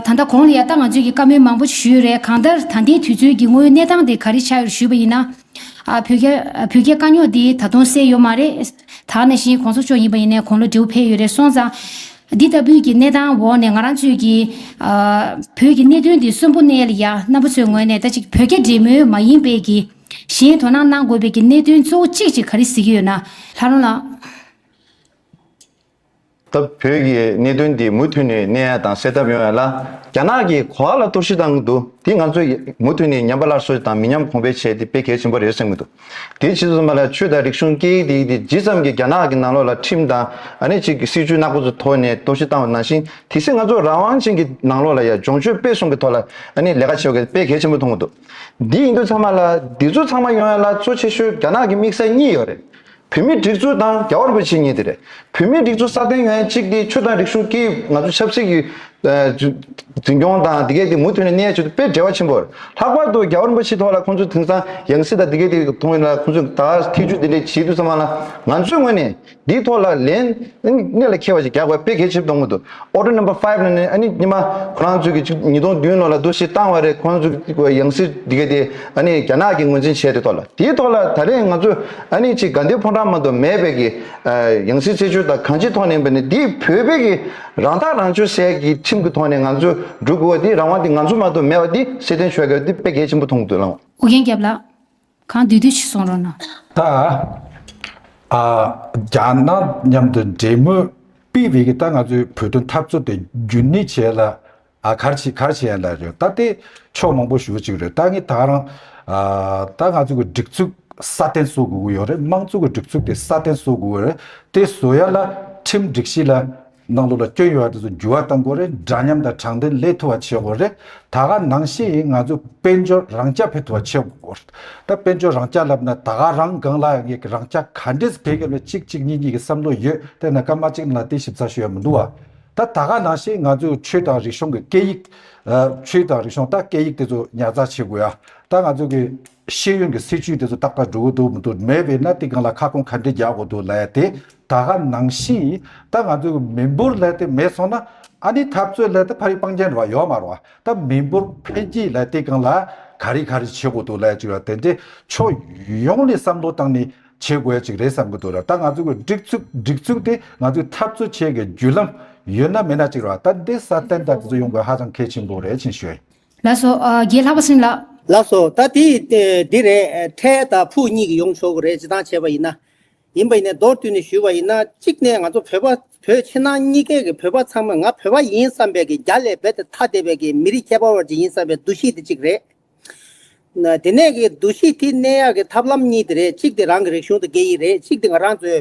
ད་ལྟ་གོང་ལ་ཡ་ལྟ་ང་ཚོས་ཀྱི་བཀའ་མོལ་མང་པོ་ཞིག་ཞུས་ཡོད་རེད་གང་ལྟར་ད་ལྟའི་དུས་ཚོད་ཀྱི་དངོས་ཡོད་གནས་སྟངས་དེ་ག་རེ་ཆགས་ཡོད་ཞུས་པ་ཡིན་ན། བོད་རྒྱ་བོད་རྒྱའི་དཀའ་རྙོག་དེ་ད་དུང་སེལ་ཡོད་མ་རེད། དག་ནས་བཞིན་གོང་ས་མཆོག་ཡིན་པ་ཡིན་ནས་གོང་ལ་འབྲེལ་བ་འཕེལ་ཡོད་རེད་སོང་ཙང། འདི་ལྟ་བུའི་གྱི་གནས་སྟངས་འོག་ནས་ང་རང་ཚོས་ཀྱི། བོད་ཀྱི་གནད་དོན་དེ་གསོན་པོ་གནས་ལ་ཡ་རྣམ་པ་ཚོའི་ངོས་ནས་ད་ཅིག་བོད་རྒྱ་འབྲེལ་མོལ་མ་ཡིན་པའི་གྱི། གཞན་དོ་སྣང་གནང་དགོས་པའི་གྱི་གནད་དོན་གཙོ་བོ་གཅིག་ཅིག་ག་རེ་གཟིགས་ཀྱི་ཡོད་ན། ལྷ་རོང་ལགས། སྟབས་བོད་ཀྱི་གནད་དོན་འདི་མུ་མཐུད་ནས་གནས་ཡ་དང་སེལ་ཐབས་ཡོང་ཡ་ལ་རྒྱ་ནག་གིས་གོ་ཨ་ལ་གཏོར་བཤིག་བཏང་གི་འདུག་དེ་ང་ཚོས་མུ་མཐུད་ནས་ཉམས་པ་སླར་གསོ་དང་མི་ཉམས་གོང་འཕེལ་བྱས་ཏེ་སྤེལ་གལ་ཆེན་པོ་རེད་བསམ་གྱི་འདུག་དེའི་ཕྱིས་སུ་མ་ལ་ཆོས་དང་རིག་གཞུང་སྐད་ཡིག་དེ་དེ་ཇི་ཙམ་གྱིས་རྒྱ་ནག་གི་ནང་ལོགས་ལ་ཁྲིམས་དང་ཨ་ནེ་ཅིག་གི་སྲིད་བྱུས་ནག་པོ་ཚོ་ཐོག་ནས་གཏོར་བཤིག་བཏང་བ་ནང་བཞིན་དེ་སྲིད་ང་ཚོ་རང་དབང་ཅན་གྱི་ནང་ལོགས་ལ་ཡ་སྦྱོང་ཆོས་སྤེལ་གསུམ་གྱི་ཐོག་ལ་ཨ་ནེ་ལས་ཀ་བྱེད་དགོས་སྤེལ་གལ་ཆེན་པོ་མཐོང་གི་འདུག་འདི་ཡིན་དུས་ཚང་མ་ལ་འདི་ཚོ་ཚང་མ་ཡོང་ཡ་ལ་གཙོ་ཆེ་ཤོས་རྒྱ་ནག་གི་དམིགས་བསལ་གཉིས་ཡོད་རེད། བུད་མེད་སྒྲིག་འཛུགས་དང་རྒྱ་བར་འགོད་བྱེད་གཉིས་དེ་རེད། བུད་མེད་སྒྲིག་འཛུགས་སྲ་བརྟན་ཡོང་ཡ་གཅིག་དེ་ཆོས་དང་རིག་གཞུང་སྐད་ཡིག་ང་ཚོ་ཆབ་སྲིད་ཀྱི་འཛིན་སྐྱོང་དང་དེ་གས་དེ་མུ་མཐུད་ནས་གནས་ཡ་ཆེད་དུ་དཔེ་འབྲེལ་བ་ཆེན་པོ་རེད། ལྷག་པར་དུ་རྒྱ་བར་འགོད་བྱེད་ཐོག་ལ་ཁོང་ཚོས་དེང་སང་ཡང་སྲིད་དང་དེ་གས་དེ་མཐོང་ཡོད་ན་ཁོང་ཚོས་ད་ཐེ་ཇུས་དེ་འདྲས་བྱེད་དུས་ཚང་མ་ལ་ང་ཚོའི་ངོས་ནས་དེའི་ཐོག་ལ་ལན་གནད་ལ་འཁེལ་བ་ཞིག་རྒྱག་པ་དཔེ་གལ་ཆེ་བསྡོམས་མོད་དུ Order Number Five ནི་ནི་ཨ་ནི་ཉི་མ་ཁོ་རང་ཚོས་ཀྱི་ཆིག་ཉིས་སྟོང་བདུན་ལོ་ལ་བསྡུ་བཞེས་བཏང་བ་རེད་ཁོ་རང་ཚོས་ཀྱི་གི་ཡང་སྲིད་འདི་གའི་དེ་ཨ་ནི་རྒྱ་ནག་གིས་ངོས་འཛིན་བྱས་དེ་ཐོག་ལ་དེའི་ཐོག་ལ་ད་རེས་ང་ཚོས་ཨ་ནི་ཆིག་དགའ་འདེབས་ཕོ་བྲང་མ་དོ་མེད་པའི་གི་ཡང་སྲིད་རྩད་གཅོད་དང་གང་ཅིའི་ཐོག་ནས་པ་ནི་འདི་བོད་པའི་གི་རང་ཐག་རང་གཅོད་སའི་གི་ཁྲིམས་གི་ཐོག་ནས་ང་ཚོས་འགྲུལ་དགོས་བ་དེ་རང་དབང་དེ་ང་ཚོ་མ་དོ་མེད་བ་དེ་སྲིད་དོན་ཆོལ་ཁའི་དེ་དཔེ་གལ་ཆེན་པོ་མཐོང་དུ་བླངས། ཨོ་རྒྱན་སྐྱབས་ལགས། གང་འདུལ་འདུལ་ཞིག་གསུང་རོགས་གནང། ད་ཨ་རྒྱ་ནག་མཉམ་དུ་འབྲེལ་མོལ་སྤེལ་བའི་གི་ད་ང་ཚོའི་བོད་དོན་འཐབ་རྩོད་དེ་རྒྱུན་གནས་བྱས་ལ་ཨ་གར་བྱས་གར་བྱས་ཡན་ལ་རེད་ད་ལྟའི་ཕྱོགས་མང་པོ་ཞུ་ཅིག་རེད་ད་ངས་ད་རང་ཨ་ད་ང་ཚོ་གི་སྒྲིག་ཚུགས་སྲ་བརྟན་བཟོ་དགོས་གི་ཡོད་རེད་དམངས་གཙོ་གི་སྒྲིག་ཚུགས་དེ་སྲ་བརྟན་བཟོ་དགོས་གི་རེད་དེ་བཟོ་ཡ་ལ་ཁྲིམས་སྒྲིག་གཞི་ལ་ནང་ལུགས་ལ་སྐྱོན་ཡོད་པ་དེ་ཚོ་འགྱུར་བ་གཏང་དགོས་རེད་འདྲ་མཉམ་དང་དྲང་བདེན་ལས་ཐུ་བ་བྱེད་དགོས་རེད་ད་ག་ནང་བཤད་ཡིན་ང་ཚོ་དཔལ་འབྱོར་རང་རྐྱ་འཕེལ་ཐུ་བ་བྱེད་དགོས་རེད་ད་དཔལ་འབྱོར་རང་རྐྱ་ལབ་ན་ད་ག་རང་སྒང་ལ་ཡང་རང་རྐྱ་ག་འདྲས་འཕེལ་གི་རེད་གཅིག་གཅིག་གཉིས་གཉིས་ཀྱི་བསམ་བློ་ཡོད་དེ་ན་ཀརྨ་གཅིག་ལ་དེ་ཞིབ་ཚགས་ཤོད་ཡ་མི་འདུག་ད་ད་ག་ནང་བཤད་ཡིན་ང་ཚོས་ཆོས་དང་རིག་གཞུང་གི་སྐད་ཡིག། ཆོས་དང་རིག་གཞུང་ད་སྐད་ཡིག་དེ་ཚོ་ཉར་ཚགས་བྱེད་དགོས་ཡ་ད་ང་ཚོ་གི། ཤེས་ཡོན་གྱི་སྲིད་བྱུས་དེ་ཚོ་ཏག་ཏག་འགྲོ་གི་འདུག་མི་འདུག་མེད་པས་ན་དེ་གང་ལ་ཁ་སྐོང་ག་འདྲས་རྒྱག་དགོས་འདུག་ལ་ཡ་དེ་ད་ག་ནང་བཞིན་ཡིན་ད་ང་ཚོའི་མི་འབོར་ལ་དེ་མེད་སོང་ན་ཨ་ནི་འཐབ་རྩོད་ལ་དེ་ཕ་རིགས་སྤང་རྒྱན་རེད་བ་ཡོད་མ་རེད་བ་ད་མི་འབོར་འཕེལ་རྒྱས་ལ་དེ་གང་ལ་ག་རེ་ག་རེ་བྱེད་དགོས་འདུག་ལ་ཡ་ཅིག་རེད་དེ་འདྲས་ཕྱོགས་ཡོངས་ནས་བསམ་བློ་བཏང་ནས་བྱེད་དགོས་ཡ་ཅིག་རེད་བསམ་གི་འདུག་རེད་ད་ང་ཚོའི་གི་སྒྲིག་ཚུགས་སྒྲིག་ཚུགས་དེ་ང་ཚོའི་འཐབ་རྩོད་བྱེད་གི་བརྒྱུད་ལམ་ཡོད་ན་མེད་ན་ཅིག་རེད་བ་ད་འདི་སྲ་བརྟན་དག་དེ་ཚོ་ཡོང་དགོས་ཧ་ཅང་གལ་ཆེན་པོ་རེད་ཅིག་ཤོད། ལགས་སོ། རྒྱས་ལྷག་པ་སེམས་ལགས། ལགས་སོ། ད་དེ་འདི་རེད། ཐའེ་དང་ཕུའུ་གཉིས་ཀྱིས་ཡོང་ཆོག་གི་རེད་ཅེས་ཐང་བྱས་པ་ཡིན་ན། ཡིན་པ་ཡིན་ནས་མདོར་བསྡུས་ནས་ཞུས་པ་ཡིན་ན་གཅིག་ནས་ང་ཚོ་བོད་པ་བོད་ཕྱི་ནང་གཉིས་ཀའི་གི་བོད་པ་ཚང་མ་ང་བོད་པ་ཡིན་བསམ་པའི་གི་རྒྱ་ལས་རྦད་དེ་ཐ་དད་པའི་གི་མི་རིགས་ཁྱད་པར་བ་ཅིག་ཡིན་བསམ་པའི་འདུ་ཤེས་དེ་གཅིག་རེད། དེ་ནས་གི་འདུ་ཤེས་དེ་གནས་ཡག་གི་ཐབས་ལམ་གཉིས་དེ་རེད་གཅིག་དེ་རང་གི་རིག་གཞུང་དེ་དགེ་ཡི་རེད་གཅིག་དེ་ང་རང་ཚོའི་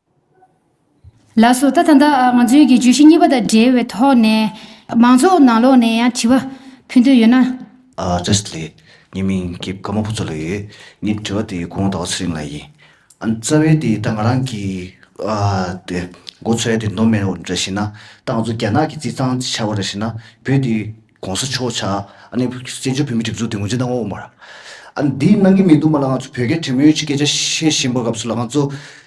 ལ་སོགས་ད་ད་ལྟ་ང་ཚོའི་གི་བརྗོད་གཞི་གཉིས་པ་དང་འབྲེལ་བའི་ཐོག་ནས། མང་ཚོགས་ནང་ལོགས་ནས་ཡང་དྲི་བ་ཕུལ་འདོད་ཡོད་ན། བཀྲ་ཤིས་ལེགས། ངའི་མིང་སྐྱེས་བཀའ་མ་བུ་ཚོ་ལ་ཡོད། ངའི་དྲི་བ་དེ་གོང་ཟླ་བ་ཚེ་རིང་ལ་ཡིན། ཨ་ཙ་བས་དེ་ད་ང་རང་གི། དེ། འགོ་ཚོའི་དེ་མདོ་སྨད་འོ་འདྲ་ཞིག་ན། ད་ང་ཚོ་རྒྱ་ནག་གི་རྩིས་ཚང་ཆ་བོ་འདྲ་ཞིག་ན་བོད་དེ། གོང་ས་མཆོག་ཆ་ཨ་ནི་བཙན་བྱོལ་བོད་མི་གྲིབ་གཟུགས་དེ་ངོས་འཛིན་གནང་འོང་བར། ཨ་ནི་འདི་གནང་གི་མི་འདུག་མ་ལ་ང་ཚོ་བོད་སྐད་དྲི་མོ་ཡོད་ཅིག་སྐད་ཆ་བཤད་བཞིན་པ་སྐབས་སུ་ལ་ང་ཚོ།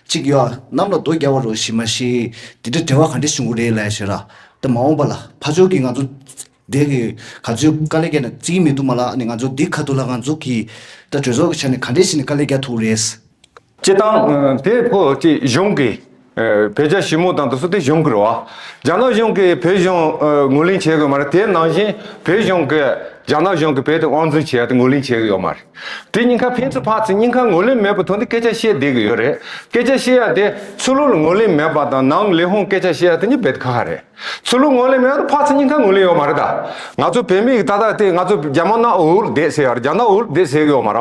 གཅིག་ཡོ་གནམ་ལ་རྡོ་རྒྱག་བར་རོ་ཞིག་མ་ཤེས། དེ་འདྲའི་བྲེལ་བ་ག་འདྲས་བྱུང་གི་རེད་ལ་ཞེས་ར། དེ་མ་འོངས་པ་ལ་ཕ་ཆོས་ཀྱིས་ང་ཚོ། འདས་ཀྱི་ག་ཚོད་དཀའ་ལས་བརྒྱག་ནས་བརྩི་གི་མི་འདུག་མ་ལ་ཨ་ནི་ང་ཚོ་འདི་ག་དུ་ལ་ང་ཚོ་གིས། ད་གྲོས་ཚོགས་ཀྱི་ཆ་ནས་ག་འདྲས་བྱས་ནས་དཀའ་ལས་བརྒྱག་ཐུབ་ཀྱི་རེད། བྱེད་སྟངས་དེ་ཕོ་སྐྱི་གཞུང་གིས་བོད་རྒྱ་ཞི་མོལ་དང་དུ་སུ་དེ་གཞུང་གིར་བ། རྒྱ་ནག་གཞུང་གིས་བོད་གཞུང་ངོས་ལེན་བྱེད་དགོས་མ་རེད་དེ་ནང་བཞིན་བོད་གཞུང་གིས་རྒྱ་ནག་གཞུང་གི་བོད་དེ་དབང་འཛིན་བྱེད་ཡ་དེ་ངོས་ལེན་བྱེད་གི་ཡོད་མ་རེད། དེ་སྙིང་ཁ་ཕན་ཚུན་ཕག་ཚེ་སྙིང་ཁ་ངོས་ལེན་མེད་པའི་ཐོག་ནས་སྐད་ཆ་བཤད་བསྡད་གི་ཡོད་རེད། སྐད་ཆ་བཤད་ཡ་དེ་ཆོས་ལུགས་ལ་ངོས་ལེན་མེད་པ་དང་ནང་ལས་ཧོན་སྐད་ཆ་བཤད་ཡ་དེ་གཉིས་བེད་ཁ་ཁ་རེད། ཆོས་ལུགས་ངོས་ལེན་མེད་ཡ་དེ་ཕག་ཚེ་སྙིང་ཁ་ངོས་ལེན་ཡོད་མ་རེད་ད། ང་ཚོ་བོད་མི་ཡིག་ཏག་ཏག་དེ་ང་ཚོ་རྒྱ་མ་ནག་འུར་འུར་བསྡད་ཟེར་ཡ་རེད་རྒྱ་ནག་འུར་འུར་བསྡད་ཟེར་གི་ཡོད་མ་ར།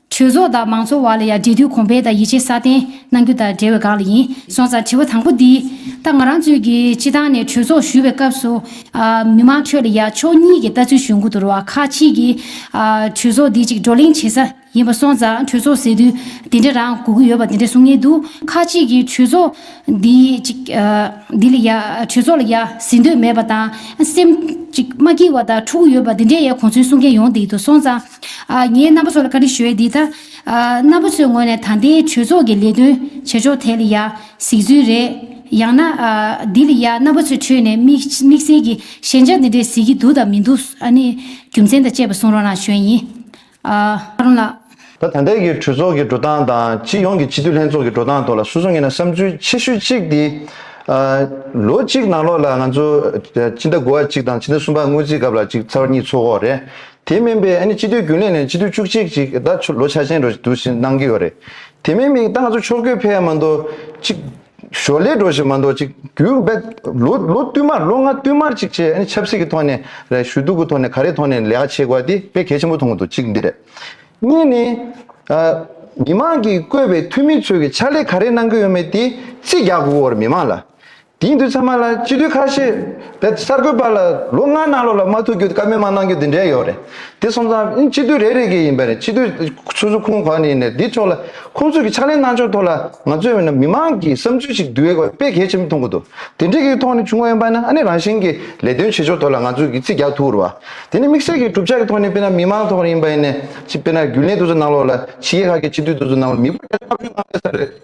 གྲོས་ཚོགས་དང་མང་ཚོགས་བར་ལ་ཡང་འབྲེལ་མཐུད་གོང་འཕེལ་དང་ཡིད་ཆེས་སྲ་བརྟན་གནང་རྒྱུ་དང་འབྲེལ་བའི་སྒང་ལ་ཡིན། སོང་ཙང་དྲི་བ་དང་པོ་འདི། ད་ང་རང་ཚོས་ཀྱི་སྤྱི་བཏང་ནས་གྲོས་ཚོགས་ཞུ་བའི་སྐབས་སུ། མི་མང་ཁྲོད་ལ་ཡང་ཕྱོགས་གཉིས་ཀྱི་ལྟ་ཚུལ་ཞུ་མགོ་འདུར་བ་ཁག་གཅིག་གིས། གྲོས་ཚོགས་འདི་ཅིག་བགྲོ་གླེང་བྱེད་ས་ཡིན་པ་སོང་ཙང་གྲོས་ཚོགས་ཟེར་དུས་འདི་འདྲ་རང་གོ་གི་ཡོད་པ་འདི་འདྲ་གསུང་ངེས་འདུག་ཁག་གཅིག་གིས་གྲོས་ཚོགས་འདི་ཅིག། འདི་ལ་ཡ། གྲོས་ཚོགས་ལ་ཡ་ཟེར་འདོད་མེད་པ་དང། སེམས། ཅིག་མ་སྐྱིད་བ་དང་འཁྲུག་གི་ཡོད་པ་འདི་འདྲའི་ཡ་གོ་ཚུལ་གསུང་མཁན་ཡོང་འདི་འདུག་སོང་ཙང། ངས་རྣམ་པ་ཚོ་ལ་བཀའ་དྲིན་ཞུ་ཡས་འདི་ལྟ། རྣམ་པ་ཚོའི་ངོས་ནས་ད་ལྟའི་གྲོས་ཚོགས་ཀྱི་ལས་དོན་བྱེད་ཕྱོགས་དེ་ལ་ཡ་གཟིགས་ཚུལ་རེད། ཡང་ན། འདི་ལ་ཡ་རྣམ་པ་ཚོའི་ཁྲོད་ནས་དམིགས་བསལ་གྱི་ཞན་ཆ་འདི་འདྲས་གཟིགས་ཀྱི་འདུག་དང་མི་འདུག་ཨ་ནི་རྒྱུ་མཚན་དང་བཅས་པ་གསུང་རོགས་གནང་ཞུས་ཡིན། ཨ་རོན་ལགས། ད་ད་ལྟའི་གི་གྲོས་ཚོགས་ཀྱི་འགྲོ་སྟངས་དང་སྤྱི་ཡོངས་ཀྱི་སྤྱི་འཐུས་ལྷན་ཚོགས་ཀྱི་འགྲོ་སྟངས་ཐོག་ལ་སོ་སོ་ངེས་ན་བསམ་ཚུལ་ཆེ་ཤོས་གཅིག་དེ། ལོ་གཅིག་ནང་ལོགས་ལ་ང་ཚོ་སྤྱི་ཟླ་དགུ་བ་གཅིག་དང་སྤྱི་ཟླ་གསུམ་པ་སྔོན་རྩིས་སྐབས་ལ་གཅིག་ཚར་གཉིས་ཚོགས་འོག་རེད་དེ་མིན་པའི་ཨ་ནི་སྤྱི་འཐུས་རྒྱུན་ལས་ནས་སྤྱི་འཐུས་བཅུ་གཅིག་ཅིག་ད་ལོ་ཆ་ཆེན་འགྲོ་འདུག་ཅིག་གནང་གི་ཡོད་རེད། དེ་མིན་མིག་མདངས་ཚོ་ཕྱོགས་ཀུན་འཕེལ་མ་འདུག་ཅིག། ཞོར་ལས་འགྲོ་བཞིན་མ་འདུག་ཅིག་བརྒྱུད་འབད། ལོ་བསྟུད་མར་ལོ་ལྔ་བསྟུད་མར་ཅིག་བྱས་ཨ་ནི་ཆབ་སྲིད་ཀྱི་ཐོག་ནས་རེད་ཞུ་གཏུག་གི་ཐོག་ནས་ག་རེ་ཐོག་ནས་ལས་ཀ་བྱེད་དགོས་དེ་དཔེ་གལ་ཆེན་པོ་མཐོང་གི་འདུག་ཅིག་འདི་རེད། གཉིས་ནི། མི་མང་གིས་བསྐོས་པའི་འཐུས་མི་ཚོས་ཀྱི་ཕྱག་ལས་ག་རེ་གནང་གི་ཡོད་མེད་དེ་རྩིས་རྒྱག་དགོས་པར་མི་མང་ལ། དེང་དུས་ཚང་མ་ལ་སྤྱི་འཐུས་ཁ་ཤས་བེད་གསར་འགོད་པ་ལ་ལོ་ལྔ་ནང་ལོགས་ལ་མ་ཐུག་རྒྱུ་བཀའ་མོལ་མ་གནང་རྒྱུ་འདི་འདྲའི་ཡོད་རེད་དེ་སོང་ཙང་ཨིན་སྤྱི་འཐུས་རེ་རེ་གི་ཡིན་པ་རེད་སྤྱི་འཐུས་སོ་སོ་ཁོང་གང་ནས་ཡིན་རེད་དེ་ཕྱོགས་ལ་ཁོང་ཚོས་ཀྱི་ཕྱག་ལེན་གནང་ཕྱོགས་ཐོག་ལ་ང་ཚོས་བས་ན་མི་མང་གི་བསམ་ཚུལ་ཞིག་འདུས་བས་དཔེ་གལ་ཆེན་པོ་མཐོང་གི་འདུག་དེ་འདྲི་གི་ཐོག་ནས་བྱུང་བ་ཡིན་པ་ནི་ཨ་ནི་རང་བཞིན་གྱི་ལས་དོན་བྱེད་ཕྱོགས་ཐོག་ལ་ང་ཚོས་ཀྱི་རྩིས་རྒྱག་ཐུག་རུ་བ་དེ་ནི་དམིགས་བསལ་གྱི་གྲུབ་ཆ་གི་ཐོག་ནས་བས་ན་མི་མང་ཐོག་ཡིན་པ་ཡིན་ནས་ཅི་བས་ན་རྒྱུན་ལས་དུ་ཚོ་གནང་ལོགས་ལ་ཕྱི་རྒྱལ་ཁག་གི་སྤྱི་འཐུས་དུ་ཚོ་གནང་ལོགས་མི་བ་དེ་ལྟ་བུའི་དམངས་གླེ་ས་རེད།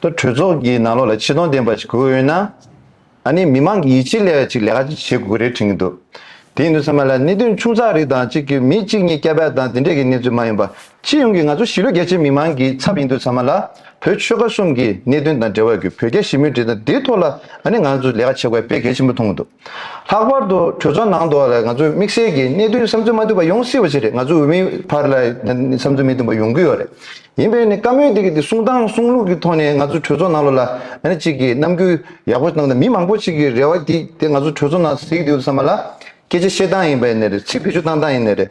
ཏུ་གྲོས་ཚོགས་ཀྱི་ནང་ལོགས་ལ་ཆེ་མཐོང་ལྡན་པ་ཞིག་དགོས་ཡོད་ན། ཨ་ནི་མི་མང་གི་ཡིད་ཆེས་ལས་ཅིག་ལས་ཀ་ཅིག་བྱེད་དགོས་ཀྱི་རེད་དྲན་གྱི་འདུག་དེ་ཡིན་དུས་ཚང་མ་ལ་གནད་དོན་ཆུང་ཚགས་རིགས་དང་གཅིག་གི་མི་གཅིག་གཉིས་སྐྱ་བལ་དང་དེ་འདྲས་ཀྱི་གནས་ཚུལ་མ་ཡིན་པ་སྤྱི་ཡོངས་ཀྱི་ང་ཚོ་གཞིས་ལུས་རྒྱ་ཆེའི་མི་མང་གི་ཚབ་ཡིན་དུས་ཚང་མ་ལ་བོད་ཆོལ་ཁ་གསུམ་གྱི་གནད་དོན་དང་འབྲེལ་བ་གྱི་བོད་རྒྱ་ཞི་མོལ་འབྲེལ་དང་དེའི་ཐོག་ལ་ཨ་ནི་ང་ཚོ་ལས་ཀ་བྱེད་དགོས་པ་དཔེ་གལ་ཆེན་པོ་མཐོང་གི་འདུག། ལྷག་པར་དུ་གྲོས་ཚོགས་ནང་དུ་ང་ཚོས་དམིགས་བསལ་གྱིས་གནད་དོན་བསམ་ཚུལ་མ་བཏོན་པ་ཡོང་སྲིད་པ་ཞིག་རེད་ང་ཚོའི་འོས་མིའི་བར་ལ་བསམ་ཚུལ་མི་བཏོན་པ་ཡོང་གི་ཡོད་རེད། ཡིན་པས་ནི་བཀའ་མོལ་འདི་གི་དེ་གསུང་སྟངས་གསུང་ལུགས་ཀྱི་ཐོག་ནས་ང་ཚོ་གྲོས་ཚོགས་ནང་ལོ་ལ་ནི་ཅིག་གིས་རྣམ་འགྱུར་ཡག་པོ་གནང་སྟེ་མི་མང་པོ་ཞིག་གི་རེ་བ་དེ་ང་ཚོ་གྲོས་ཚོགས་ནང་གཟིགས་འདུག་བསམ་པ་ལ་སྐད་ཆ་བཤད་སྟངས་ཡིན་པ་ནི་རེད་ཚིག་བེད་སྤྱོད་གཏང་སྟངས་ཡིན་ནི་རེད།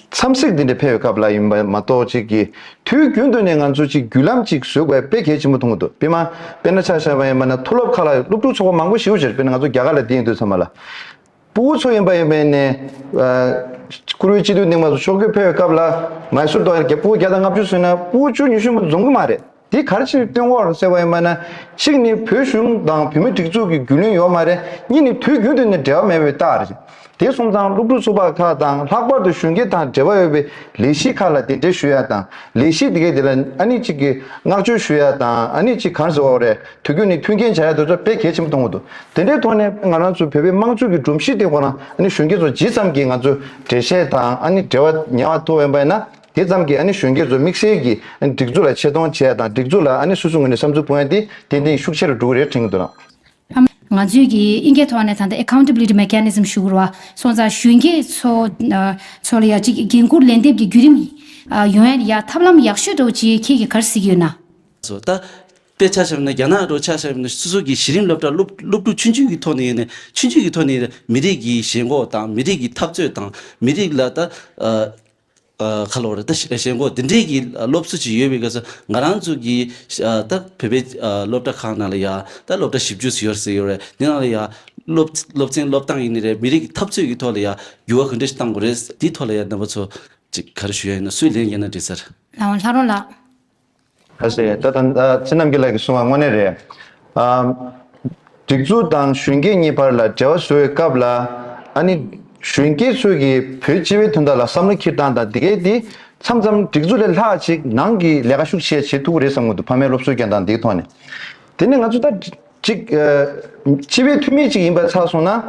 འཚམས་གཟིགས་འདི་འདྲ་འཕེལ་བའི་སྐབས་ལ་ཡིན་པ་མ་གཏོགས་གཅིག་གིས་དུས་རྒྱུན་དུ་ནས་ང་ཚོས་གཅིག་བརྒྱུད་ལམ་གཅིག་བཟོས་དགོས་པའི་གལ་ཆེན་པོ་མཐོང་གི་འདུག་དཔེར་ན་དཔེར་ན་ཆ་ཤས་པ་ཡིན་པ་ན་མཐོ་སློབ་ཁག་ལ་སློབ་ཕྲུག་ཚོགས་པ་མང་པོ་ཞིག་ཆེར་དཔེར་ན་ང་ཚོ་རྒྱ་གར་ལ་བསྡད་ཡོད་དུས་ཚང་མ་ལ་པུའུ་ཚོ་ཡིན་པ་ཡིན་པས་ནས་བཀུར་འོས་སྤྱི་འཐུས་གདིང་བ་སོགས་ཕྱོགས་བསྐྱོད་འཕེལ་བའི་སྐབས་ལ་ང་ཚོ་དང་པུའུ་བརྒྱ་དང་ལྔ་བཅུ་བཟོས་ན་པུའུ་བཅུ་ཉི་ཤུ་མ་འཛོམས་གི་མ་རེད། དེ་གར་ཕྱིར་བཏོན་འོག་རུ་གསལ་བ་ཡིན་པ་ན། གཅིག་ནི་བོད་གཞུང་དང་བོད་མིའི་སྒྲིག་འཛུགས་ཀྱི་རྒྱུས་ལོན་ཡོད་མ་རེད་གཉིས་ནི་དུས་རྒྱུན་དུ་ནས་འབྲེལ་བ་མེད་པའི་རྟགས་རེད། དེ་གསུམ་ཚང་སློབ་ཕྲུག་ཚོགས་པ་ཁག་དང་ལྷག་པར་དུ་གཞོན་སྐྱེས་དང་འབྲེལ་བ་ཡོད་པའི་ལས་གཞི་ཁག་ལ་དེ་འབྲེལ་ཞུ་ཡ་དང་ལས་གཞི་དེ་གའི་དེ་ལ་ཨ་ནི་གཅིག་གིས་མངགས་བཅོལ་ཞུ་ཡ་དང་ཨ་ནི་གཅིག་གང་ཟེར་བ་རེད་དུས་རྒྱུན་ནས་མཐུན་རྐྱེན་བྱ་ཡ་དེ་ཚོ་བེད་གལ་ཆེན་པོ་གཏོང་གི་འདུག་དེ་འདྲའི་ཐོག་ནས་ང་རང་ཚོ་བོད་པའི་དམངས་ཁྲོད་ཀྱི་སྒྲོམ་གཞི་དེ་གོ་ན་ཨ་ནི་གཞོན་སྐྱེས་ཚོ་ཇི་ཙམ་གྱིས་ང་ཚོའི་འབྲེལ་བཤད་དང་ཨ་ནི་འབྲེལ་བ་ཉེ་བ་མཐོ་བ་ཡིན་པ་ཡིན་ན། དེ་ཙམ་གྱིས་གཞོན་སྐྱེས་ཚོ་དམིགས་བསལ་གྱིས་སྒྲིག་འཛུགས་ལ་ཆེ་མཐོང་བྱས་དང་སྒྲིག་འཛུགས་ལ་སོ་སོའི་ངོས་ནས་བསམ་ཚུལ་སྤུངས་ཡ་དེ་ཏན་ཏན་ཤུགས་ཆེ་རུ་འགྲོ་གི་རེད་དྲན་གྱི་འདུག་ལགས། ང་ཚོས་ཀྱིས་ཨིན་སྐད་ཐོག་ནས་ད་ལྟ Accountability Mechanism ཞུ་དགོས་པ་སོང་ཙང་གཞོན་སྐྱེས་ཚོ་ཚོ་ལ་ཡང་གཅིག་འགན་འཁུར་ལན་འདེབས་ཀྱི་བརྒྱུད་རིམ་ཡོང་ཡ་ཡ་ཐབས་ལམ་ཡག་ཤོས་འགྲོ་ཅེས་ཁྱེད་ཀྱིས་གར་གཟིགས་ཡོད་ན། ཚོ་ད་ལྟ་ཆགས་ཞབས་ན་རྒྱ་ནག་རུ་ཆགས་ཞབས་ན་སོ་སོ་གྱིས་གཞི་རིམ་སློབ་གྲྭར་སློབ་སློབ་ཕྲུག་ཆུང་ཆུང་གི་ཐོག་ནས་ཡོད་ནས་ཆུང་ཆུང་གི་ཐོག་ནས་མི་རིགས་ཀྱི་ཞེན་ཁོག་དང་མི་རིགས་ཀྱི་འཐབ་རྩོད་དང་མི་རིགས་ལ་ད་ཁ་ལོ་རེད་ད་བྱེད་སྒོ་འདི་འདྲས་ཀྱི་སློབ་གསོ་ཅིག་ཡོད་པའི་སྐབས་སུ་ང་རང་ཚོ་གི་ད་བོད་པའི་སློབ་གྲྭ་ཁག་ནང་ལ་ཡང་ད་སློབ་གྲྭ་བཞི་བཅུ་ཟེར་ཡོད་ཟེར་ཡོད་རེད་དེ་ནང་ལ་ཡང་སློབ་སློབ་ཚན་སློབ་སྟངས་ཡིན་ནི་རེད་མི་རིགས་ཀྱི་འཐབ་རྩོད་ཀྱི་ཐོག་ལ་ཡང་འགྱུར་བ་གང་འདྲ་ཞིག་གཏང་དགོས་རེད་དེའི་ཐོག་ལ་ཡང་རྣམ་པ་ཚོ་ཅིག་ག་རེ་ཞུ་ཡ་ཡིན་ན་སུས་ལན་རྒྱབ་ན་འགྲིག་སར། ལྷ་རོ་ལགས། ཨ་ཤེ། ད་ཐང་ཚེ་རྣམ་རྒྱལ་ལགས་ཀྱིས་གསུང་བ་དངོས་གནས་རེད། སྒྲིག་འཛུགས་དང་གཞོན་སྐྱེས་གཉིས་བར་ལ་འབྲེལ་བ་བཟོ་བའི་སྐབས་ལ། ཨ་ནི། གཞོན་སྐྱེས་ཚོས་ཀྱིས་བོད་སྤྱི་བའི་དོན་དག་ལ་བསམ་བློ་འཁྱེར་སྟངས་དང་དེ་གའི་དེ་མཚམས་མཚམས་སྒྲིག་འཛུགས་ལས་ལྷག་ཅིག་ནང་གི་ལས་ཀ་ཤུགས་ཆེ་བྱེད་ཐུག་གི་རེད་བསམ་གི་འདུག་ཕ་མའི་སློབ་གསོའི་འགན་དང་དེའི་ཐོག་ནས། དེ་ནས་ང་ཚོ་ད། གཅིག། སྤྱི་བའི་འཐུས་མི་གཅིག་ཡིན་པ་ཚགས་སོང་ན།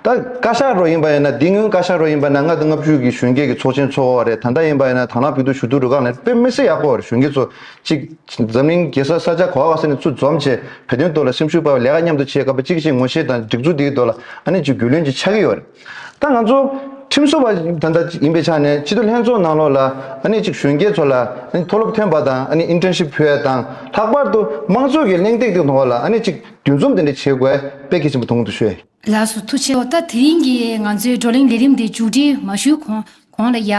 ད་བཀའ་ཤག་རོགས་ཡིན་པ་ཡིན་ན་འདི་སྔོན་བཀའ་ཤག་རོགས་ཡིན་པ་ན་ལྔ་དང་ལྔ་བཅུ་གི་གཞོན་སྐྱེས་ཀྱི་ཚོགས་ཆེན་ཚོགས་བ་རེད་ད་ལྟ་ཡིན་པ་ཡིན་ན་དྭང་བླངས་ཕུགས་རྡུགས་ཞུ་གཏུག་རུ་ཁག་ནས་དཔེ་མི་སྲིད་ཡག་པོ་གཞོན་སྐྱེས་ཚོ་གཅིག། འཛམ་གླིང་གེ་སར་ས་ཆ་གོ་བ་བ་སེ་ནས་ཚུར་འཛོམས་བྱས་བོད་དོན་ཐོག་ལ་སེམས་ཤུགས་སྤར་བའི་ལས་ཀ་མཉམ་དུ་བྱེད་དཀའ་བ་གཅིག་གཅིག་ངོ་ཤེས་དང་སྒྲིག་འཛུགས་འདིའི་ཐོག་ལ་ཨ་ནི་གཅིག་རྒྱུས་ལོན་གྱི་ཆགས་ཀྱི་ཡོད་རེད། ད་ང་ཚོ་ཁྲིམས་བཟོ་བ་ད་ལྟ་ཡིན་པའི་ཆ་ནས་སྤྱི་འཐུས་ལྷན་ཚོགས་ནང་ལོགས་ལ་ཨ་ནེ་གཅིག་གཞོན་སྐྱེས་ཚོ་ལ་མཐོ་སློབ་ཐོན་པ་དང་ཨ་ནེ་ཨིན་ཏྲན་ཤིབ་ཕུལ་བ་དང་ལྷག་པར་དུ་དམངས་གཙོ་གི་གླེང་སྟེགས་སྟེང་དུ་འོག་ལ་ཨ་ནེ་གཅིག་འདུས་འཛོམས་དེ་འདྲ་བྱེད་དགོས་དཔེ་གལ་ཆེན་པོ་དུང་དུ་ཤོས། ལགས་སོ་ཐུགས་ཆེའོ་ད་དེ་རིང་གི་ང་ཚོའི་བགྲོ་གླེང་ལས་རིམ་འདི་མཇུག་སྒྲིལ་མ་ཞུས་གོང་གོང་ལ་ཡ།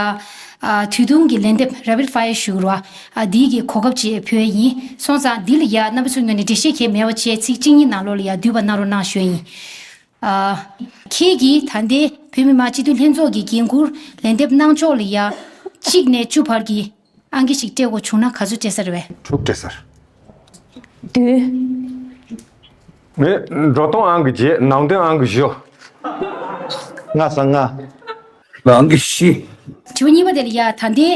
དུས་ཐུང་གི་ལན་འདེབས Rapid Fire ཞུ་རོ། འདིའི་གི་གོ་སྐབས་ཅིག་ཕུལ་ཡིན། སོང་ཙང་འདི་ལ་ཡ་རྣམ་པ་ཚོས་ངོས་ནས་འགྲེལ་བཤད་གལ་མེད་བ་བཅས་ཚིག་གཅིག་གཉིས་ནང་ལོགས་ལ་ཡ་འདུས་པ་གནང་རོགས་གནང་ཞུ་ཡིན། ཁྱེད་ཀྱིས་ད་ལྟའི་བོད་མི་མང་སྤྱི་འཐུས་ལྷན་ཚོགས་ཀྱི་འགན་ཁུར་ལན་འདེབས་གནང་ཕྱོགས་ལ་ཡ། གཅིག་ནས་བཅུ་བར་གྱི་ཨང་ཀི་ཞིག་སྤྲད་དགོས་བྱུང་ན་ག་ཚོད་སྤྲད་ས་རེད་བས། དྲུག་སྤྲད་སར། བདུན། ནི། འགྲོ་སྟངས་ཨང་ཀི་བརྒྱད་ནང་དོན་ཨང་ཀི་བཞི། ལྔ་སར་ལྔ། ལ་ཨང་ཀི་བཞི། དྲི་བ་གཉིས་པ་དེ་ལ་ཡ། ད་ལྟའི།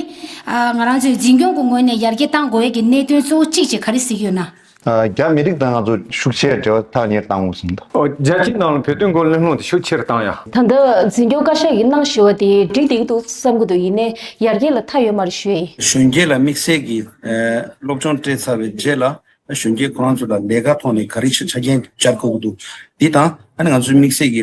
ང་རང་ཚོས་འཛིན་སྐྱོང་གི་ངོས་ནས་ཡར་རྒྱས་གཏང་དགོས་ཀྱི་གནད་དོན་གཙོ་བོ་གཅིག་ཅེས་ག་རེ་གཟིགས་ཡོད་ན། རྒྱ་མི་རིགས་དང་ང་ཚོ་ཤུགས་ཆེར་འབྲེལ་བ་ཐག་ཉེར་བཏང་ངོ་གསུངས་འདུག། རྒྱལ་སྤྱིའི་ནང་ལ་བོད་དོན་སྐོར་གླེང་སློང་དེ་ཤུགས་ཆེར་བཏང་ཡ། ད་ལྟ་འཛིན་སྐྱོང་བཀའ་ཤག་གིས་གནང་ཞེས་བ་དེ་འགྲིག་འདེགས་འདུག་བསམ་གི་འདུག་ཡིན་ནའི་ཡར་རྒྱས་ལ་མཐའ་ཡོད་མ་རེད་ཞུ་ཨེ། གཞོན་སྐྱེས་ལ་དམིགས་བསལ་གྱི་སློབ་སྦྱོང་སྤྲད་ཚར་བའི་རྗེས་ལ་གཞོན་སྐྱེས་ཁོ་རང་ཚོ་ལ་ལས་ཀ་ཐོག་ནས་ག་རེ་ཞིག་ཆ་རྐྱེན་སྦྱར་དགོས་ཀྱི་འདུག་འདི་དང་ང་ཚོའི་དམིགས་བསལ་གྱི་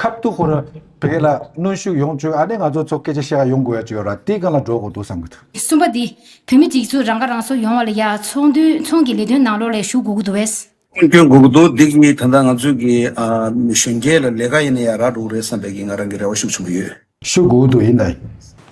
ཁ་བཏུ་ཁོ་ར་བས་ལ་གནོན་ཤུགས་ཡོང་བྱོས་ཨ་ནེ་ང་ཚོ་ཚོ་སྐད་ཆ་བཤད་ཡ་ཡོང་དགོས་ཡ་བྱོས་ར་ཏི་གང་ལ་འགྲོ་དགོས་འདུག་བསམ་གི་འདུག། གསུམ་པ་འདི། བོད་མི་གཅིག་གྱུར་རང་ཁ་རང་གསོ་ཡོང་བ་ལ་ཡ་ཚོང་དུས་ཚོང་གི་ལས་དོན་ནང་ལོགས་ལས་ཞུགས་དགོས་གི་འདུག་བས། སྐྱོན་དགོས་གི་འདུག་འདི་གཉིས་ད་ལྟ་ང་ཚོས་གི་གཞོན་སྐྱེས་ལ་ལས་ཀ་ཡིན་ན་ཡ་རག་འགྲོ་གི་རེད་བསམ་པས་གི་ང་རང་གི་རེ་བ་ཤུགས་ཆེན་པོ་ཡོད། སུ་འགུག་ཐུབ་ཡིན་ན།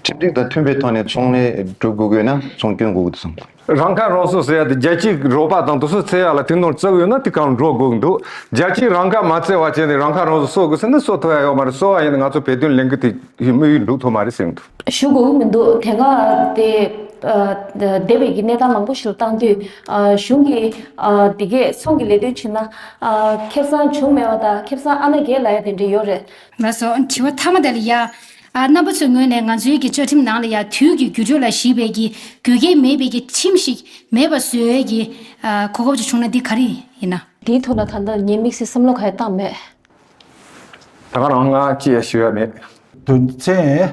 ཁྲིམས་སྒྲིག་དང་མཐུན་པའི་ཐོག་ནས་ཚོང་ལས་སྒྲུབ་དགོས་དགོས་ན་ཚོང་སྐྱོན་འགོག་དགོས་དགོས། རང་ཁ་རང་གསོ་ཟེར་ཡ་དེ་རྒྱལ་སྤྱིའི་རོགས་པ་དང་དུ་སོ་ཚེ་ཡ་ལ་དེ་ནོར་བཙལ་ཡོད་ན་དེ་གང་འགྲོ་དགོས་འདུག་རྒྱལ་སྤྱིའི་རང་ཁ་མ་བཙལ་བ་བྱས་ནས་རང་ཁ་རང་གསོ་གསོ་དགོས་ཟེར་ན་གསོ་ཐུབ་ཡ་ཡོད་མ་རེད་གསོ་བ་ཡིན་ན་ང་ཚོ་བོད་དོན་ལེན་གི་དེ་དམིགས་ཡུལ་འགྲུབ་ཐུབ་མ་རེད་ཟེར་གི་འདུག། ཞུ་དགོས་ཀྱི་མི་འདུག་དེ་སྔ་དེ་སྡེ་བའི་གི་གནས་སྟངས་མང་པོ་ཞུ་བཏང་དུས་གཞུང་གི་དེ་གས་ཚོང་གི་ལས་དོན་བྱེད་ན་ཁེབས་ཚང་བྱུང་མེད་པ་དང་ཁེབས་ཚང་ཨ་ན་རྒྱས་ལ་ཡ་དེ་འདྲ་ཡོད་རེད་ལ་སོགས་དྲི་བ་ཐ་མ་དག་ལ་ཡང། རྣམ་པ་ཚོའི་ངོས་ནས་ང་ཚོའི་གི་བཅའ་ཁྲིམས་ནང་ལ་ཡང་དུས་ཀྱི་རྒྱུ་འབྲས་ལ་གཞིགས་པའི་གི་དགོས་གལ་མེད་པའི་གི་ཁྲིམས་ཤིག་མེད་པ་བཟོས་འོས་གི་གོ་སྐབས་ཅིག་བྱུང་ན་འདི་ག་རེ་ཡིན་ན། དེའི་ཐོག་ལ་ད་ལྟ་ངས་དམིགས་བསལ་བསམ་བློ་ག་ཡང་བཏང་མེད། ད་ང་རང་ང་ཅི་ཡང་ཞུ་ཡ་མེད། དོན་ཚན།